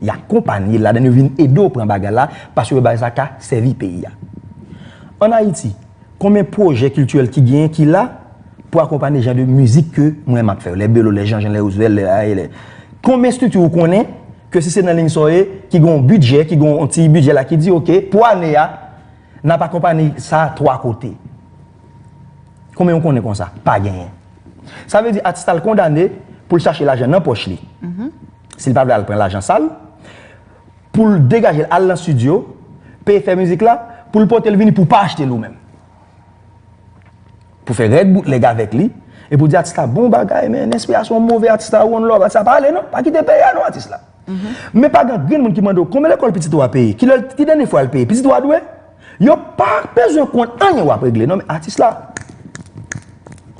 Y akonpanye l ladan l, yo vin ede w pran bagay la, paske yo wè bagay sa ka sèvi peyi a. An Ayiti, konbyen pwojè kiltirèl ki genyen ki la pou akonpanye jan de mizik ke mwen m ap fè yo, lè Belo, lè Janjan, lè Rouzvèl, lè A. E. Konbyen estrikti ou konnen ke si se nan liy sa w ye, ki gen yon bidjè, ki gen yon ti bidjè la ki di oke, pou ane a, N ap akonpane sa twa kote. Konbyen ou konnen konsa? Pa genyen. Sa vle di atis la l kondane pou l chache lajan nan pòch li. Si l pa vle al pran lajan sal, pou l degaje l al nan stidyo, peye fè mizik la, pou l pote l vini pou w pa achte l ou menm. Pou fè règ boutleg avèk li, epi w di atis la bon bagay men enspirasyon w move atis la one love atis la pa ale non, pa kite peyi a non atis la. Men pa gen angrenn moun ki mande w konbyen lekòl pitit ou a peye, ki lè, ki dènye fwa l peye. Pitit ou a dwe? Yo pa bezwen konn anyen w ap regle non men atis la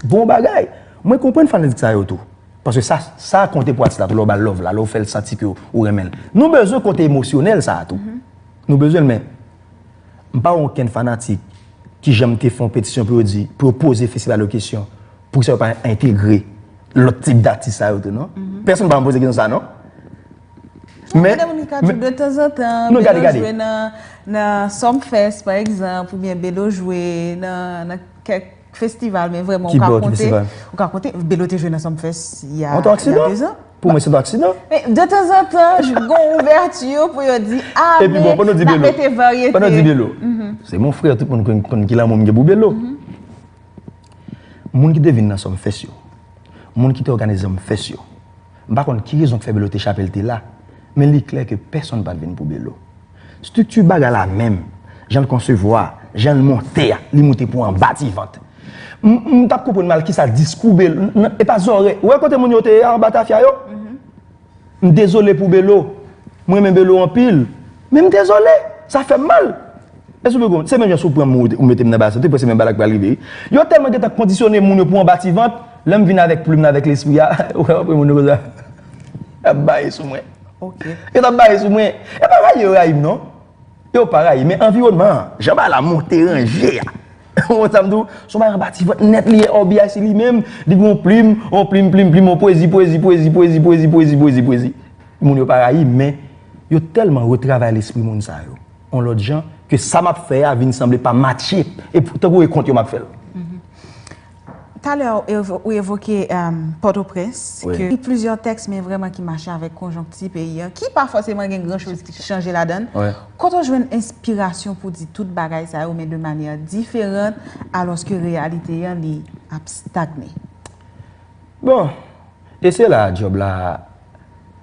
bon bagay. Mwen konprann fanatik sa yo tou. Paske sa, sa konte pou atis la tou lè w ba l love la, lè w fè l santi ke ou renmen l. Nou bezwen kote emosyonèl sa a tou. Nou bezwen l men m pa wè onkenn fanatik ki janm te fè yon petisyon pou yo di, pou yo poze festival yo kesyon poukisa yo pa entegre. lòt tip datis sa yo tou non. Pèsonn pa konn poze kesyon sa non. Men. Mèdam Ricardjo de tanzantan Bédo jwe nan Sumfest pa egzanp oubyen Bédo jwe nan kèk festival men vrèman ou ka konte. Kibò ki festival? Bédo te jwe nan Sumfest ya 2 zan. An ton aksidan? Pou mwen se ton aksidan. De tanzantan gon ouvèti pou yo di a men nan mete varyete. Epi bon, pandan w di Bédo, se mon frère tout moun konn ki lanmou m gen pou Bédo. Moun ki te vin nan Sumfest yo, moun ki te òganize Sumfest yo, m pa konn ki rezon k fè Belo te chape l te la, men li klè ke pèsonn pa t vin pou Belo. Strikti bagay la menm, jan l konsevwa a, jan l monte a, li moute pou anba ti vant. M pa t konprann mal kisa diskou Belo, e pa zòrèy, ou wè kote moun yo te ye a anba tafya yo? M dezole pou Belo, m renmen Belo anpil, men m dezole, sa fè m mal. Èske w vle konprann? Se menm jan si w pran m ou mete m nan basen, tout pwen se menm bagay la k pral rive wi. Yo tèlman gen tan kondisyone moun yo pou anba ti vant, lè m vin avèk plim nan, avèk lespri a, ou wè apre moun yo konsa y ap baye sou mwen. Yo t ap baye sou mwen. E pa rayi yo rayi m non. Yo pa rayi men anviwònman an, jan bagay la monte ranje a. Ou wè sa m di w? S on bagay anba ti vant nèt li ye OBIC li menm, li gen yon plim, yon plim plim plim, yon pwezi pwezi pwezi pwezi pwezi pwezi pwezi pwezi. Moun yo pa rayi m men, yo tèlman retravay lespri moun sa yo yon lòt jan ke sa m ap fè a vin sanble pa matche e tankou e kont yo m ap fè l. Talè ou evoke Pòtoprens, ki gen plizyè tèks men vrèman ki mache avèk konjonkti peyi an, ki pa fòseman gen gran choz ki chanje ladann. Kote ou jwenn enspirasyon pou di tout bagay sa yo men de manyè diferant alòske reyalite an li ap stagne? Bon, e se la djòb la,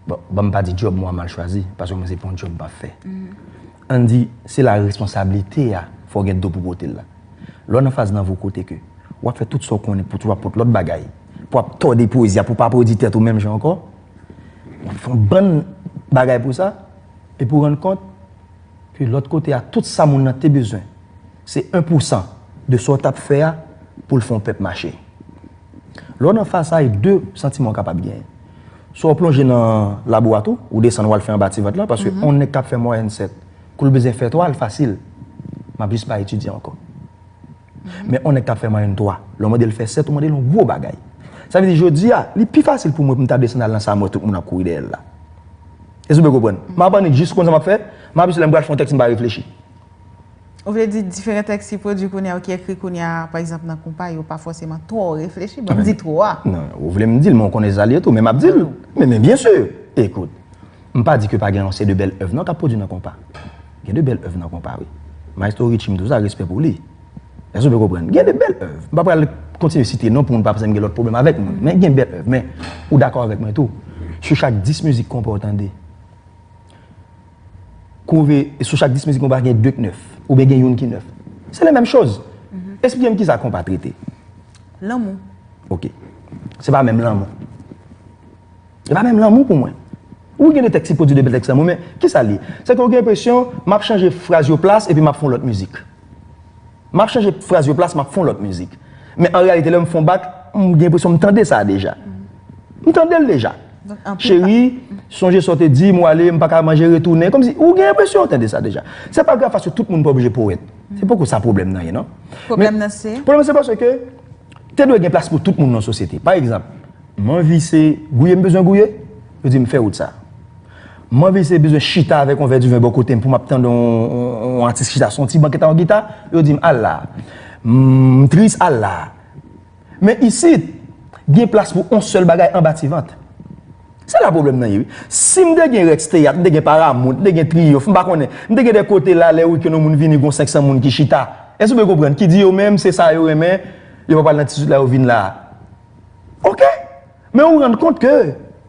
bon, banm pa di djòb mwen an mal chwazi, paske mwen se pa yon djòb m pa fè. Ann di, se la responsablite a fò w gen do pou pote l la. Lè w nan faz nan vi w kote ke w ap fè tout sa w konnen pou toujou ap pot lòt bagay, pou ap tòde pwezi a pou w pa pwodi tèt ou menm jan ankò, w ap fè yon bann bagay pou sa, epi w rann kont ke lòt kote a tout sa moun nan te bezwen se 1 pousan de sa w t ap fè a pou l fè yon pèp mache. Lè w nan fasay, de santiman ou kapab genyen. Swa w plonje nan labo a tou, ou desann wal fè anba ti vant lan, paske on nèg kap fè mwayèn 7, kou l bezyen fè 3 l fasil, map jis pa etidye ankò. Men on nèg kap fè mwayèn 3, lè w mande l fè 7, ou mande l on gwo bagay. Sa vle di jodi a, li pi fasil pou mwen pou m ta desann al nan sa mwen tout moun ap kouri dèyè l la. Èske w byen konprann? Map annik jis konn sa map fè, map jis lè m pral fè on tèks m pa reflechi. Ou vle di diferan tèks ki pwodui kounye a ou ki ekri kounye a, pa egzanp nan konpa yo, pa fòseman twò reflechi? Bon, m di twò a. Non, ou vle m di l, men ou konnen sa l ye tou. Men m ap di l, men men byen si! Ekout, m pa di ke pa gen yon se de bèl èv non k ap pwodui nan konpa. Gen de bèl èv nan konpa wi. Maestro Richie m di w sa, respè pou li. Èske w byen konprann? Gen de bèl èv. M pa pral kontinye site non pou moun pa panse m gen lòt pwoblèm avèk moun. Men gen bèl èv. Men, ou dakò avèk mwen tou, sou chak 10 mizik konpa ou tande, kore sou chak 10 mizik konpa gen 2 k nèf oubyen gen youn ki nèf. Se le menm choz. Esplike m kisa konpa trete. Lanmou. Ok. Se pa menm lanmou. Se pa menm lanmou pou mwen. Ou gen de tèks ki pwodui de bèl tèks lanmou men kisa li ye? Se ke ou gen enpresyon m ap chanje fraz yo plas epi m ap fon lòt mizik. Map chanje fraz yo plas map fon lòt mizik. Men an reyalite lèm fon bak, m gen enpresyon m tande sa deja. M tandel deja. Cheri, sonje sa w te di m, w ale, m pa ka manje retounen. Kòmsi ou gen enpresyon ou tande sa deja. Se pa grav paske tout moun pa oblije powèt. Se poko sa pwoblèm nan ye non. Pwoblèm nan se? Pwoblèm nan se paske te dwe gen plas pou tout moun nan sosyete. Pa egzanp, m anvi se gouye m bezwen gouye, yo di m fè wout sa. Mwen vin se bezwen chita avèk yon vè diven bò kote m pou m ap tande yon atis chita sou yon ti ban ki ta yon gita, yo di m al la a. M tris al la a. Men isit, gen plas pou yon sèl bagay anba ti vant. Se la pwoblèm nan ye wi. Si m te gen Rex Teyat, m te gen Paramount, m te gen Triyonf, m pa konnen, m te gen de kote la lè wikenn yon moun vini gen yon 500 moun ki chita. Èske ou byen konprann? Ki di yo menm se sa yo renmen, yo pa pral nan ti zout la yo vin la a. Oke! Men ou rann kont ke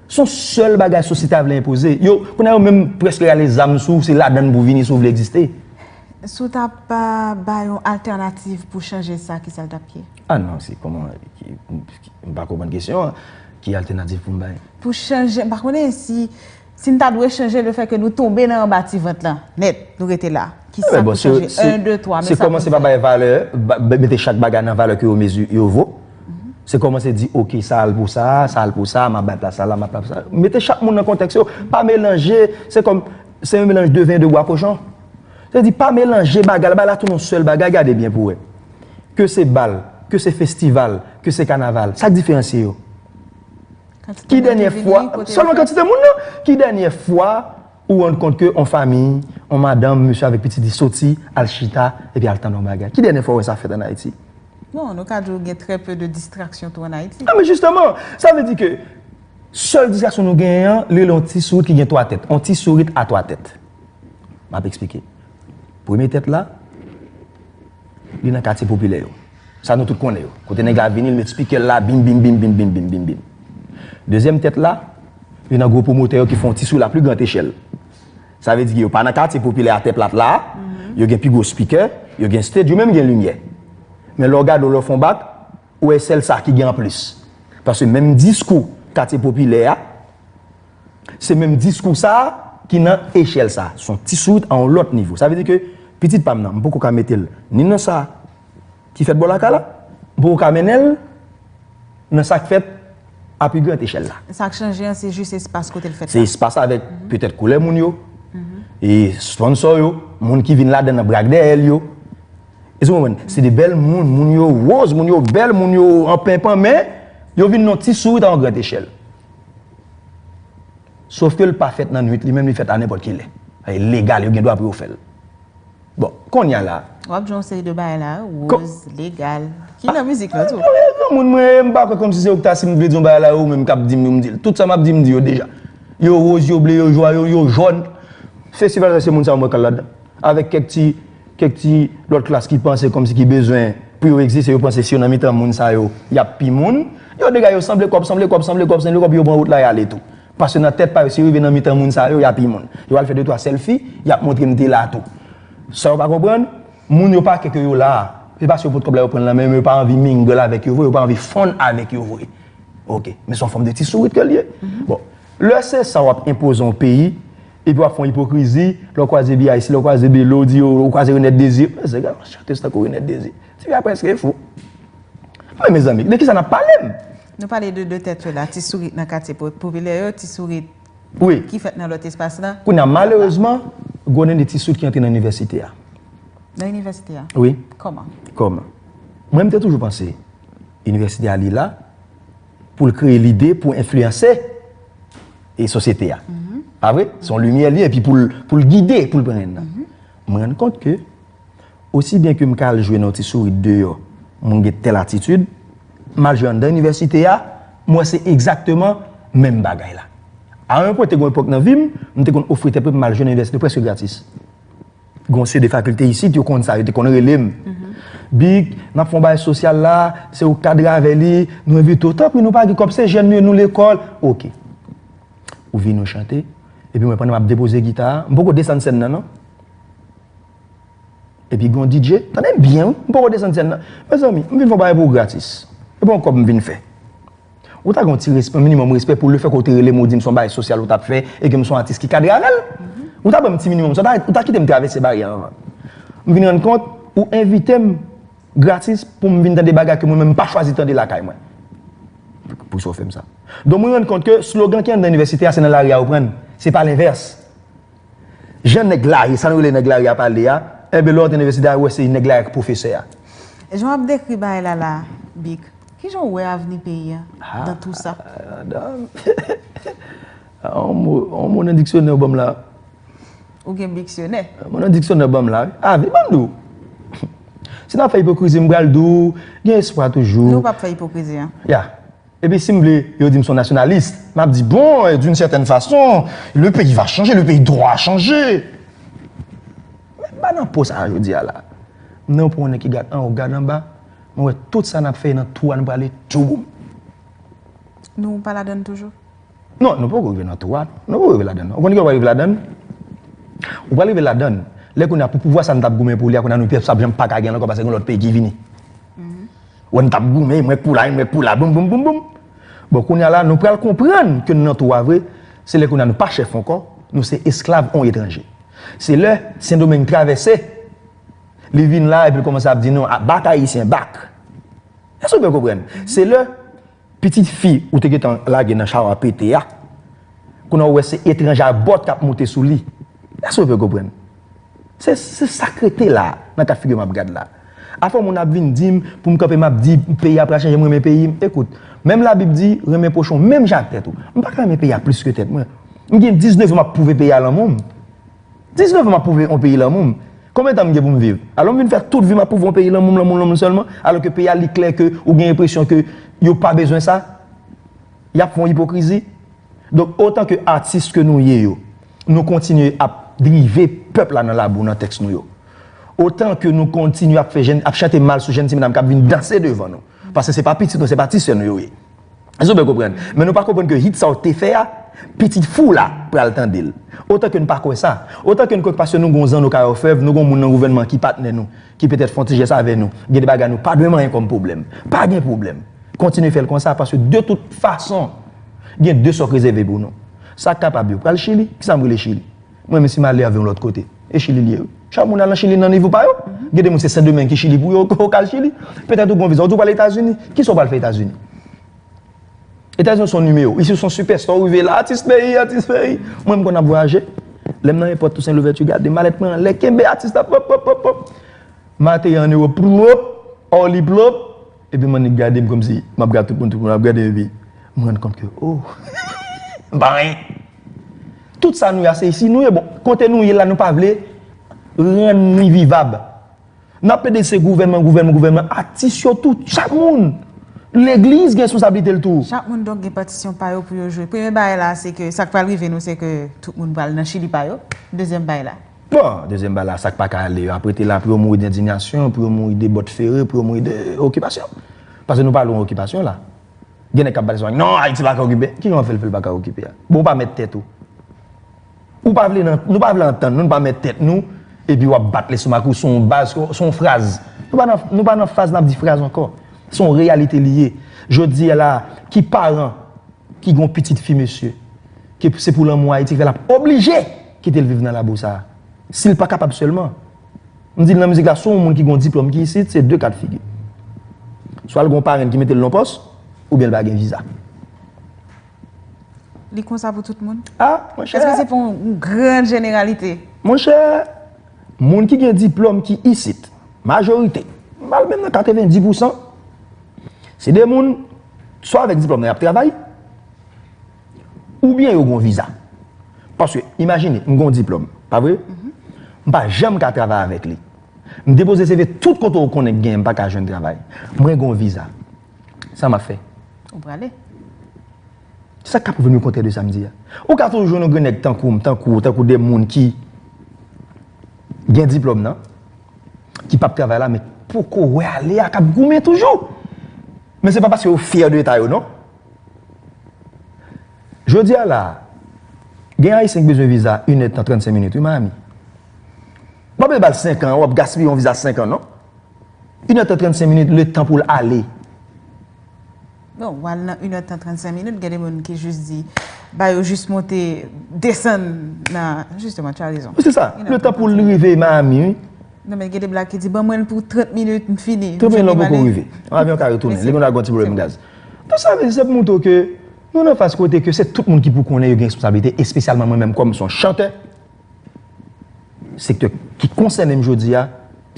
son sèl bagay sosyete a vle enpoze. Yo, kounye a yo menm preske rale zam sou ou se ladann pou vini si ou vle egziste. Si w ta bay yon altènativ pou chanje sa kisa l t ap ye? A non, se kòman, m pa konprann kesyon an. Ki altènatif pou m bay? Pou chanje, m pa konnen si Si n ta dwe chanje le fè ke nou tonbe nan anba ti vant lan nèt, nou rete la, ki sa pou chanje? 1, 2, 3, men sa pou n fè. Se kòmanse pa bay valè, mete chak bagay nan valè ke yo mezi, yo vo. Se kòmanse di oke sa al pou sa, sa al pou sa, m ap bay plas sa la, m ap bay plas sa la. Mete chak moun nan kontèks yo. Pa melanje, se kòm, se yon melanj de ven e de bwa kochon. Se di pa melanje bagay la, bay la tou nan sèl bagay, gade byen pou wè. Ke se bal, ke se festival, ke se kanaval, sa k diferansye yo? Ki dènyè fwa, selon kantite moun nan, ki dènyè fwa ou rann kont ke yon fami, yon madanm, mesye avèk pitit li soti, al chita, epi al tann yon bagay? Ki dènyè fwa ou wè sa fèt ann Ayiti? Bon, nou ka di ou gen trè pe de distraksyon tou ann Ayiti. A men jisteman! Sa vle di ke sèl distraksyon nou genyen an, li rele yon ti sourit ki gen twa tèt. Yon ti sourit a twa tèt. M ap esplike. Premye tèt la, li nan katye popilè yo. Sa nou tout konnen yo. Kote nèg la vini, li met spikè l la, bim bim bim bim bim bim bim bim. Dezyèm tèt la, li nan gwo pwomotè yo ki fè yon ti sou la pli gran echèl. Sa vle di ke yo pa nan katye popilè a tè plat la, yo gen pi gwo spikè, yo gen stage, yo menm gen limyè. Men lè w gade w, lè w fè yon bak, ou wè sèl sa ki gen anplis. Paske menm diskou katye popilè a. Se menm diskou sa a ki nan echèl sa a. Son ti sourit a yon lòt nivo. Sa vle di ke pitit pa m nan, m poko ka mete l ni nan sa ki fèt bò lakay la, m poko ka mennen l nan sa k fèt a pi gran echèl la. Sa k chanje an se jis espas kote l fèt la. Se espas avèk petèt koulè moun yo, e sponsò yo, moun ki vin ladan nan brak dèyè l yo. Èske w konprann? Se de bèl moun, moun yo woz, moun yo bèl, moun yo anpenpan men yo vin nan ti sourit a yon gran echèl. Sof ke l pa fèt nan nwit li menm li fèt a nenpòt ki lè. Sa e legal yo gen dwa pou yo fè l. Bon, konnya la. W ap jwe yon seri de bagay la, woz, legal. Ki nan mizik lan tou. Mwen granmoun mwen e m pa kwè kòm si se ou ki ta si m vle di yon bagay la e ou menm k ap di m yo m di l. Tout sa m ap di m di yo deja. Yo woz, yo ble, yo jwa, yo jòn. Festival sa se moun sa yo mwen k al ladan. Avèk kèk ti kèk ti lòt klas ki panse kòmsi ki bezwen pou yo egziste yo panse si yo nan mitan moun sa yo y ap pi moun. Yo dega yo sanble kòb, sanble kòb, sanble kòb, sanble kòb yo pran wout la y ale tou. Paske nan tèt pa yo si yo rive nan mitan moun sa yo y a pi moun. Yo al fè de twa sèlfi y ap montre m te la tou. Sa yo pa konprann, moun yo pa kè ke yo la a. Se pa si yo pot kòb la yo pran l nan men yo men yo pa anvi mingle avèk yo vre, yo pa anvi fonn avèk yo vre. Ok. Men se yon fòm de ti sourit ke l ye. Bon, lè se sa w ap enpoze yon peyi, Epi wap fè yon ipokrizi, lè w kwaze BIC, lè w kwaze Belo, w di yo, ou kwaze Renette Désir. Mwen se gade yon chanteuse tankou Renette Désir. Tifi a preske fou. Men mezanmi, de kisa nap pale m? Nou pale de 2 tèt yo la, ti sourit nan katye popilè yo, ti sourit ki fèt nan lòt espas la. Kounye a, malerezman, gwonnen de ti sourit ki antre nan inivèsite a. Nan inivèsite a? Wi. Kòman? Kòman? Mwen m te toujou panse inivèsite a li la. pou l kreye lide pou enfliyanse e sosyete a. Pa vre? Se yon limyè l ye epi pou l gide, pou l pran en nan. M rann kont ke osi byen ke m ka al jwe nan yon ti sourit deyò, mwen gen tèl atitid, m al jwe anndan inivèsite a, m wè se egzakteman menm bagay la. A yon pwen te gen yon epòk nan vi m, m te konn ofri tèt mwen pou m al jwe nan inivèsite prèske gratis. Gon se de fakilte isit, yo konn sa, yo te konn rele m. Big, n ap fè yon bagay sosyal la, se ou k kadre avè li, nou envite ou. Tanpri, nou pa gen kòb, se jèn nou ye, nou lekòl. Oke. Ou vini ou chante, epi mwen pandan m ap depoze gita a, m poko desann sèn nan non. Epi gen yon DJ, tande m byen wi, m poko desann sèn nan. Mezanmi, m vin fè yon bagay pou ou gratis. Se pa yon kòb m vin fè. Ou ta gen yon ti respè, yon minimòm respè pou lefè ke ou te rele m ou di m se yon bagay sosyal ou t ap fè e ke m se yon atis ki kadre avè l. Ou ta ban m ti minimòm sa, ou ta kite m travèse baryè a anvan. M vin rann kont ou envite m gratis pou m vin tande bagay ke mwen menm m pa chwazi tande lakay mwen. Poukisa ou fè m sa? Donk mwen rann kont ke slogan ki anndan inivèsite a se nan lari a ou pran l, se pa lenvès. Jan nèg lari, sa nou rele nèg lari a pale a, enben lè w antre nan inivèsite a, ou wè se nèg lari a ki pwofesè a. Jan w ap dekri bagay la la a, Bic, ki jan w wè avni peyi a nan tou sa? On mo nan diksyonè ou ban m la. Ou gen diksyonè? On mo nan diksyonè ou ban m la. Avni, ban m di w. Si n ap fè ipokrizi, m pral di w, gen espwa toujou. Nou pa ap fè ipokrizi an. Ya. Epi si m vle yo di m son nasyonalis, m ap di bon, d'une certaine façon, le pays va changer, le pays doit changer. Men m pa nan po sa a jodi a la. M nan yon po yon nèg ki gad anwo, gad anba, mwen wè tout sa n ap fè e nan tou a nou prale tchouboum. Nou pa ladann toujou? Non, nou poko rive nan tou a. Nou poko rive ladann. Ou konn kijan ou pral rive ladann? Ou pral rive ladann lè kounye a pou pouvwa sa nou tap goumen pou li a kounye a nou pèp sa ap janm paka genl ankò paske gen lòt peyi ki vini. Wè nou tap goumen mwen k pou la e mwen k pou la boum boum boum boum. Bon kounye a la nou pral konprann ke nou nan tou a vre, se lè kounye a nou pa chèf ankò, nou se esklav on etranje. Se lè Sendomeng travèse, li vin la epi l kòmanse ap di nou a bak ayisyen bak. Èske ou byen konprann? Se lè Pitit fi ou te gentan lage nan chawa pete a, kounye a ou wè se etranj a bòt kap moute sou li. Èske ou fè konprann? Se se sak rete la nan ka figure map gad la. Afè moun ap vin dim poum kanpe map di peyi a pral chanje m renmen peyi m. Ekout, menm la bib di renmen pwochen w menm jan ak tèt ou. M paka renmen peyi a plis ke tèt mwen. M gen 19 an map pwouve peyi a lanmou m. 19 an map pwouve yon peyi lanmou m. Konbyen tan m gen pou m viv? Alò m vin fè tout vi m ap pwouve yon peyi lanmou m, lanmou m, lanmou m sèlman? Alò ke peyi a li klè ke ou gen enpresyon ke yo pa bezwen sa? Yap fè yon ipokrizi. Donk otan ke atis ke nou ye yo, nou kontinye ap drive pèp la nan labou nan tèks nou yo. Otan ke nou kontinye ap fè jenn, ap chante mal sou jenn ti medam kap vin danse devan nou. Paske se pa pitit nou, se pa ti sè nou yo ye. Èske nou byen konprann? Men nou pa konprann ke hit sa ou te fè a, pitit fi w la pral tande l. Otan ke n pa kwè sa. Otan ke n kwè ke paske nou gen yon zanno kay òfèv, nou gen yon moun nan gouvènman ki patnè nou, ki petèt fè yon ti jès avè nou, gen de bagay nou pa dwe manyen kòm pwoblèm. Pa gen pwoblèm. Kontinye fè l konsa, paske de tout fason, gen de sa w k rezève pou nou. Sa k kapab yo pral Chili. Kisa m rele Chili? Mwen menm si m ale avè yon lòt kote, e chili l ye wi. Chak moun al nan chili nan nivo pa yo. Gen de moun se sendomeng ki chili pou yo, ou ka al chili. Petèt ou gen yon viza, ou di ou pral etazini. Kisa ou pral fè etazini? Etazini ou se yon nimewo. Isi ou se yon sipèsta ou rive la, atis peyi, atis peyi. Mwen m konn ap vwayaje. Lè m nan èpòt tousen louvèti gade malèt mwen anlè, kenbe atis la pwop pwop pwop pwop. M ateri an ewòp pwop, Orly pwop. Epi m annik gade m kòmsi m ap gad tout moun, tout moun ap gade m epi m rann kont ke o m pa anyen. Tout sa nou ye a se isi nou ye bon kote nou ye la nou pa vle rann li vivab. N ap plede se gouvènman, gouvènman, gouvènman, atis yo tou, chak moun. Legliz gen responsablite l tou. Chak moun donk gen patisyon pa yo pou yo jwe. Premye bagay la se ke sa k pral rive nou se ke tout moun pral nan chili pa yo. Dezyèm bagay la. Bon! Dezyèm bal la, sa k pa ka ale yo ap rete la pou yo mouri dendinyasyon, pou yo mouri de bòt fere, pou yo mouri de okipasyon. Pase nou pa lwen okipasyon la. Gen nèg k ap pale souvan, non Ayiti pa ka okipe. Ki jan w ap fè l fè l pa ka okipe a? Bon ou pa mèt tèt ou. Ou pa vle nan, nou pa vle antann nou, nou pa mèt tèt nou, epi w ap bat lestomak ou sou yon baz, sou yon fraz. Nou pa nan, nou pa nan faz n ap di fraz ankò. Se yon reyalite li ye. Jodi a la a, ki paran ki gen yon pitit fi mesye, ke se pou lanmou Ayiti k fè l ap oblije! kite l viv nan labou sa a. Si l pa kapab sèlman, m di l nan mizik la si w yon moun ki gen yon diplòm ki isit se de ka de figi. Swa l gen yon parenn ki mete l nan pòs oubyen l pa gen viza. Li konsa pou tout moun? A, mon chè. Èske se pou yon gran jeneralite? Mon chè, moun ki gen diplòm ki isit, majorite, m ba l menm nan 90 pousan, se de moun swa avèk diplòm nan y ap travay, Oubyen yo gon viza. Paske imajine m gon diplòm, pa vre? M pa janm ka travay avèk li. M depoze CV tout kote ou konnen k genyen m pa ka jwenn travay. Mwen gon viza. Sa m ap fè? Ou prale. Sa k ka pwouve m le kontrè de sa m di a? Ou ka toujou jwenn yon grenn nèg tankou m, tankou ou, tankou de moun ki gen diplòm nan, ki p ap travay la men poko wè ale a k ap goumen toujou. Men se pa paske yo fyè de eta yo non. Jodi a la a, gen Ayisyen ki bezwen viza yn èdtan 35 minit wi Miami. Wap vle bal 5 an, wap gaspiye yon viza 5 an non. Yn èdtan 35 minit letan pou l ale. Bon, wal nan yn èdtan 35 minit, gen de moun ki jis di ba yo jis monte, desann nan, jisteman tu as raison. Wi se sa, letan pou l rive Miami wi. Non men gen de blag ki di ban mwen l pou 30 minit m fini. 30 minit lan poko rive. Yon avyon ka retounen, li gendwa gen yon ti pwoblèm gaz. Tout sa vle di se pou moutre w ke nou nan faz kote ke se tout moun ki pou konnen yo gen responsablite espesyalman mwen menm kòm son chantè sektè ki konsène m jodi a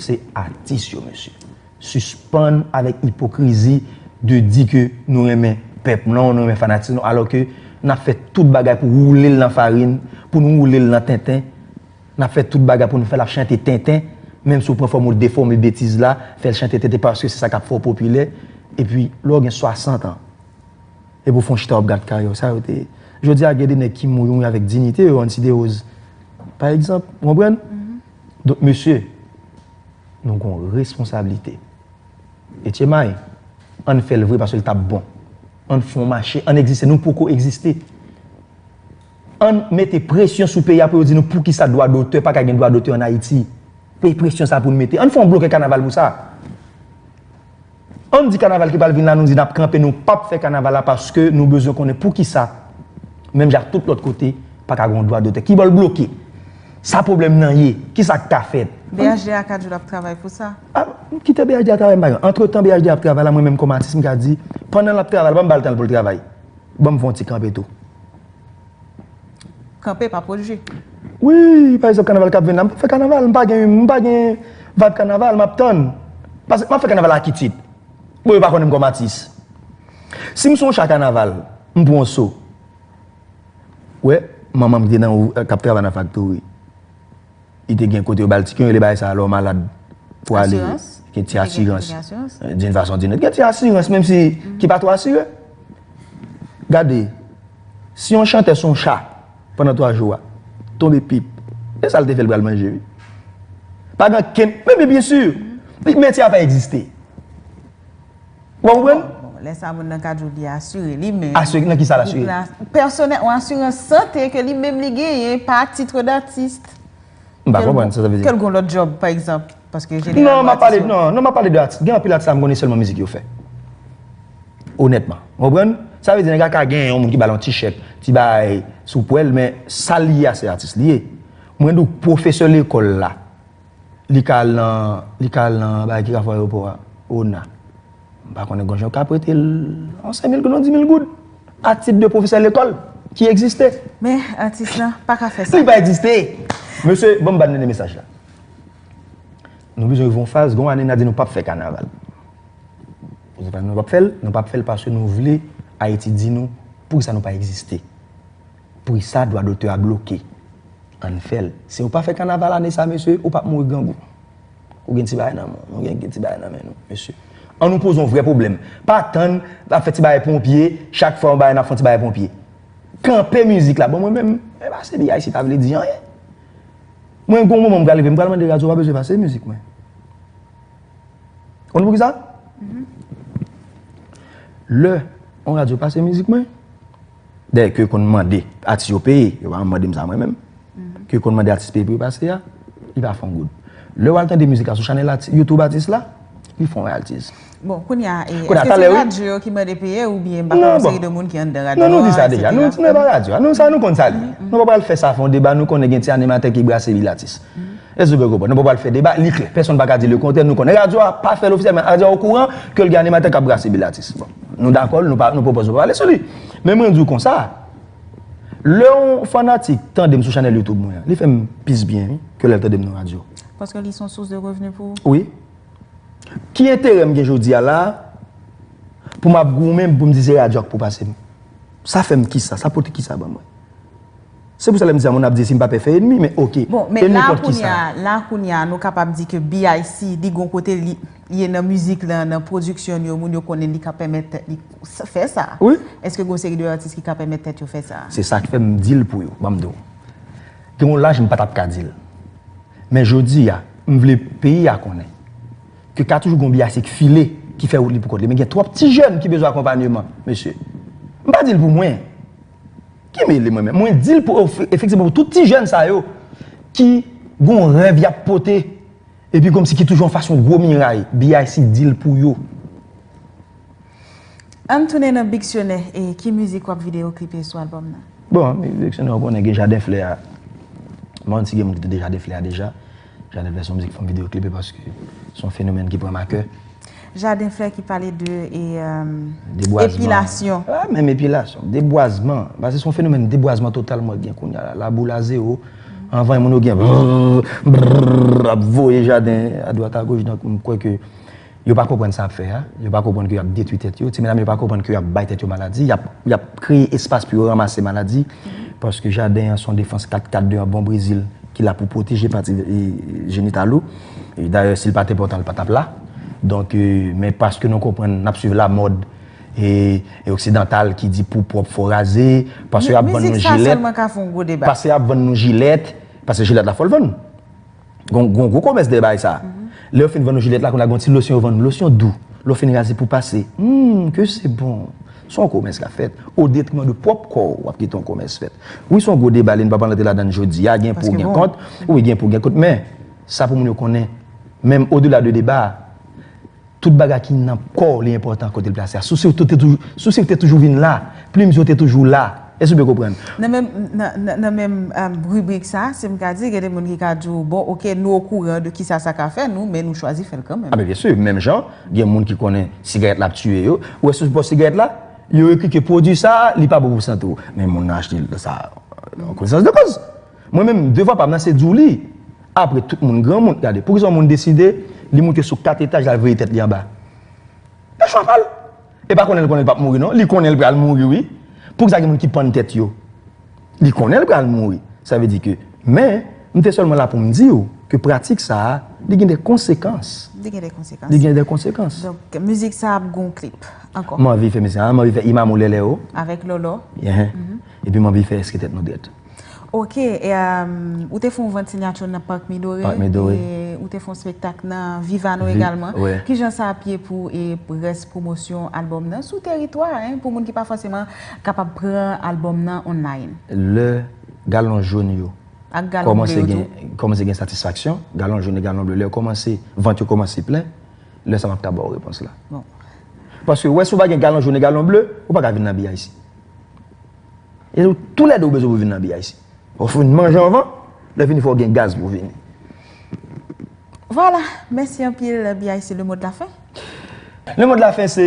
se atis yo mesye sispann avèk ipokrizi de di ke nou renmen pèp nan nou renmen fanatik nou alò ke nap fè tout bagay pou woule l nan farin pou nou woule l nan tenten Nap fè tout bagay pou nou fèl ap chante tenten, menm si ou pran fòm ou defòme betiz la, fèl chante tenten paske se sa kap fè w popilè, epi lè w gen 60 ans epi ou fè yon chita wap gad karyè w sa yo te ye. Jodi a gen de nèg ki mouri mouri avèk dinite yo anti derose pa egzanp ou konprann? Donk mesye nou gon responsablite etchemay ann fèl vre paske l tap bon ann fon mache ann egziste nou poko egziste. Ann mete presyon sou peyi a pou yo di nou poukisa dwa dotè pa ka gen dwa dotè an Ayiti. Pe presyon sa pou nou mete. Ann fè yon blokè kanaval pou sa. Ann di kanaval ki pral vin la nou di n ap kanpe nou pap fè kanaval la paske nou bezwen konnen poukisa menm jan ak tout lòt kote pa ka gen yon dwa dotè. Ki bò l bloke? Sa pwoblèm nan ye? Ki sa k ka fèt? BHDA ka di w l ap travay pou sa. A kite BHDA travay m pa gen. Antretan BHDA ap travay la mwen menm kòm atis m ka di pandan l ap travay la pa m ba l tan l pou l travay. Banm fon ti kanpe tou. Kanpe pa pwojje. Wi, pa egzanp kanaval kap vin la, m pap fè kanaval, m pa gen, m pa gen vibe kanaval, map tann. Pase map fè kanaval a ki tit? Bon yo pa konnen m kòm atis. Si m sou yon cha kanaval, m pran yon so. Ou wè manman m ki te nan, kap travay nan faktori. Li te gen kote yo ba l ti kwen rele bagay sa a lè w malad pou ale. Asirans? Gen ti asirans. Gen asirans? Doun fason doun lòt. Gen ti asirans menm si ki pa twò asire. Gade, si yon chantè son cha pandan twa jou a, tonbe pip, se sa l te fè l pral manje wi. Pa gen okenn, men men byensi! Li menti a pa egziste. Ou pa konprann? Bon, lè sa moun nan ka djou li asire li menm. Asire nan ki sa l asire? Nan pèsonè, yon asirans sante ke li menm li genyen pa titre d'artiste. M pa konprann sa sa vle di. Ke l gon lòt djòb pa egzanp. Paske jeneralman atis yo. Non, m ap pale, non, non m ap pale de atis. Gen anpil atis la m konnen sèlman mizik yo fè. Onètman. Ou konprann? Sa vle di nèg la ka gen yon moun ki ba l yon ti chèk, ti bagay sou pwèl men sa l ye a se atis li ye. Mwen di w pwofesè lekòl la. Li ka al nan, li ka al nan bagay ki rapò ayewopò a, ona. M pa konnen gon jan yo ka prete l yon sen mil goud, yon di mil goud a tit de pwofesè lekòl ki egziste. Men, atis lan pa ka fè sa. Li pa egziste! Mesye, ban m ba n dènye mesaj la. Nou bezwen rive yon faz, gen yon ane n a di nou pap fè kanaval. Pou ki sa nou pap fè l? Nou pap fè l paske nou vle Ayiti di nou pou ki sa nou pa egziste. Prisa dwa dotè a bloke. Ann fèl. Si ou pa fè kanaval ane sa mesye, ou pap mouri grangou. Ou gen ti bagay nan menw. Nou gen ti bagay nan men nou mesye. An nou poze yon vrè pwoblèm. Pa tann nap fè ti bagay ponpye, chak fwa yon bagay nap fè yon ti bagay ponpye. Kanpe mizik la. Bon mwen menm, mwen pase BIC pa vle di anyen. Mwen gon moman m pral rive m pral mande radyo pa bezwen pase mizik mwen. Konn pou kisa? Lè yon radyo pase mizik mwen. Dayè ke yo konn mande atis yo peye, yo pa janm mande m sa mwen menm, ke yo konn mande atis peye pou yo pase a, li pa fè yon goud. Lè w al tande mizik la sou chanèl ati, YouTube atis la, li fè yon rayaltiz. Bon, kounye a, e, Kounye a, eske talè se wi. radyo yo ki mande peye oubyen m pa konnen, Non, bon. seri de moun ki anndan radyo a, Non, nou di sa deja. Nou, eksetera. nou e pa radyo a. Nou sa, nou konn sa l ye. Nou pa pral fè sa fè yon deba, nou konnen gen ti animatè ki brase vil atis. Èske nou byen konprann? Nou pa pral fè deba, li klè. Pèsonn pa ka di lekontrè. Nou konnen radyo a pa fè l ofisyèl, men radyo a okouran ke l gen animatè k ap brase bil atis. Bon, nou dakò, nou pa, nou pa opoze pou pale sou li. Men mwen di w konsa, lè yon fanatik tande m sou chanèl YouTube mwen an, li fè m plis byen wi, ke lè l tande m nan radyo. Paske li son sous de revni pou ou? Wi. Ki enterè m gen jodi a la a, pou m ap goumen pou m di se radyo a k pou pase m? Sa fè m kisa? Sa pote kisa ban mwen? Se pou sa lèm di sa moun ap di sim pa pè fè enmi men ok Bon men enmi la kont kounya kisa? la kounya nou kapab di ke BIC li gon kote li ye nan mizik lan nan production l yo moun yo konnen li ka pèmèt tèt li fè sa Wi. eske gon seri de atis ki ka pèmèt tèt yo fè sa? Se sak fèm dil pou yo banm diw gen yon laj m pa tap ka dil men jodi a m vle peyi a konnen ke ka toujou gon BIC k file ki fè wout li pou kont li men gen twòp ti jèn ki bezwen akonpanyeman mesye m pa dil pou mwen Ki mele mwen menm? Mwen dil pou efektivman pou tout ti jèn sa yo ki gon rèv yap pote epi komsi ki toujou anfas yon gwo miray, BIC dil pou yo. Ann tounen nan biksyonè e ki mizik wap videoklipe sou albòm nan? Bon, biksyonè ou konnen gen jaden flè a. Mwen mèt si gen moun ki tande jaden flè a deja. Jaden flè son mizik fanm video clip e paske son fenomèn ki pranm a kè. Jaden flè ki pale de epilasyon. Debwazman. Pa menm epilasyon. Debwazman. Paske son fenomèn debwazman total mwen gen kounye la. La boule a zero. Anvan yon moun yo gen brrrr brrrr ap voye jaden a dwat a goch. Donk mwen kwè ke. Yo pa konprann sa yap fè a, yo pa konprann ke yap detwi tèt yo, ti medam yo pa konprann ke yap bay tèt yo maladi, yap yap kreye espas pou yo ranmase maladi, paske jaden an son defans 4 kat 2 an bon brezil ki la pou pwoteje pati jenital ou, dayè sil pat enpòtan li patap la, donk men paske nou konprann nap swiv la mòd e oksidantal ki di pou pwòp fò raze, paske yap vann nou jilèt, paske yap vann nou jilèt, paske jilèt la fòl vann. Gon gon gwo komès dèyè bagay sa. Lè yo fin vann ou jilèt la kounye a gon ti losyon yo vann ou, losyon dou. Lè w fin raze pou w pase, humm ke se bon. Se yon komès k ap fèt o detriman de pwòp kò w. W ap kite yon komès fèt. Wi se yon gwo deba li n pa pral rantre ladann jodi a, gen pou gen kont. Wi gen pou gen kont men sa pou moun yo konnen menm odela de deba a, Tout bagay ki nan kò w li enpòtan kote l plase a. Sousi w te toujou, sousi w te toujou vin la. Plim yo te toujou la. Èske w byen konprann? Nan menm, nan menm ribrik sa, si m ka di, gen de moun ki ka di w, bon, ok, nou okouran de kisa sa ka fè nou, men nou chwazi fè l kanmenm. A men byensi, menm jan, gen moun ki konnen sigarèt la ap tiye yo. Ou wè sou bò sigarèt la, yo ekri ke pwodui sa a, li pa bon pou sante w. Men moun nan achte l sa a an konesans de kòz. Mwen menm devwa pam nan se di w li apre tout moun granmoun gade poukisa yon moun deside li moute sou 4 etaj lal veye tèt li anba se chwa pal e pa konnen li konnen li pap mouri non li konnen li pral mouri wi poukisa gen moun ki pann tèt yo li konnen li pral mouri sa vle di ke men m te sèlman la pou m di w ke pratik sa li gen de konsekans li gen de konsekans li gen de konsekans donk mizik sa ap gen yon klip ankò m anvi fè mizik sa m anvi fè imam ou lèlè ou avèk lòlò epi m anvi fè eske tèt nou drèt. Ok, ou te fon vant sinyatyon nan Park Midore, ou te fon spektak nan Vivano egalman, ki jan sa ap ye pou res promosyon album nan sou teritwa, pou moun ki pa foseman kapab pran album nan online? Le galon joun yo komanse gen satisfaksyon, galon joun e galon ble, le komanse, vant yo komanse plen, le sa map ka baw repons la. Paske wè si ou pa gen galon joun e galon ble, ou pa ka vin nan BIC. E nou tou lè 2 ou bezwen pou vin nan BIC. Fò w fin manje anvan, lè fini fò w gen gaz pou w vini. Vwala, mèsi anpil BIC le mot de la fin. Le mot de la fin se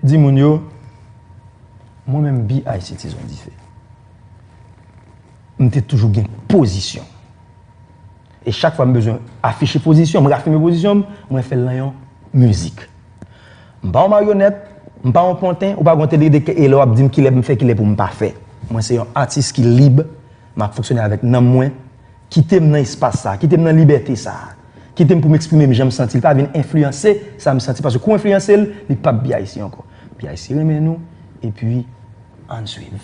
di moun yo mwen menm BIC Tizon Dife m te toujou gen pozisyon. E chak fwa m bezwen afiche pozisyon m, rafime pozisyon m, mwen fè l nan yon mizik. M pa yon maryonèt, m pa yon panten, ou pa gen yon tèt lide ke e lè w ap di m kilè pou m fè, kilè pou m pa fè. Mwen se yon atis ki lib, m ap fonksyone avèk nanm mwen, kite m nan espas sa a, kite m nan libète sa a, kite m pou m eksprime m jan m santi l, pa vin enfliyanse sa m santi paske kou w enfliyanse l, li p ap biyayisi ankò. BIC renmen nou, epi. Ann swiv.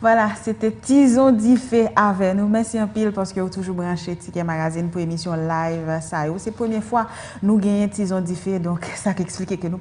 Vwala, se te Tizon Dife avè nou. Mèsi anpil paske ou toujou branche Tikè Magazine pou emisyon live sa yo. Se premye fwa nou genyen Tizon Dife, donk sa k esplike ke nou pa.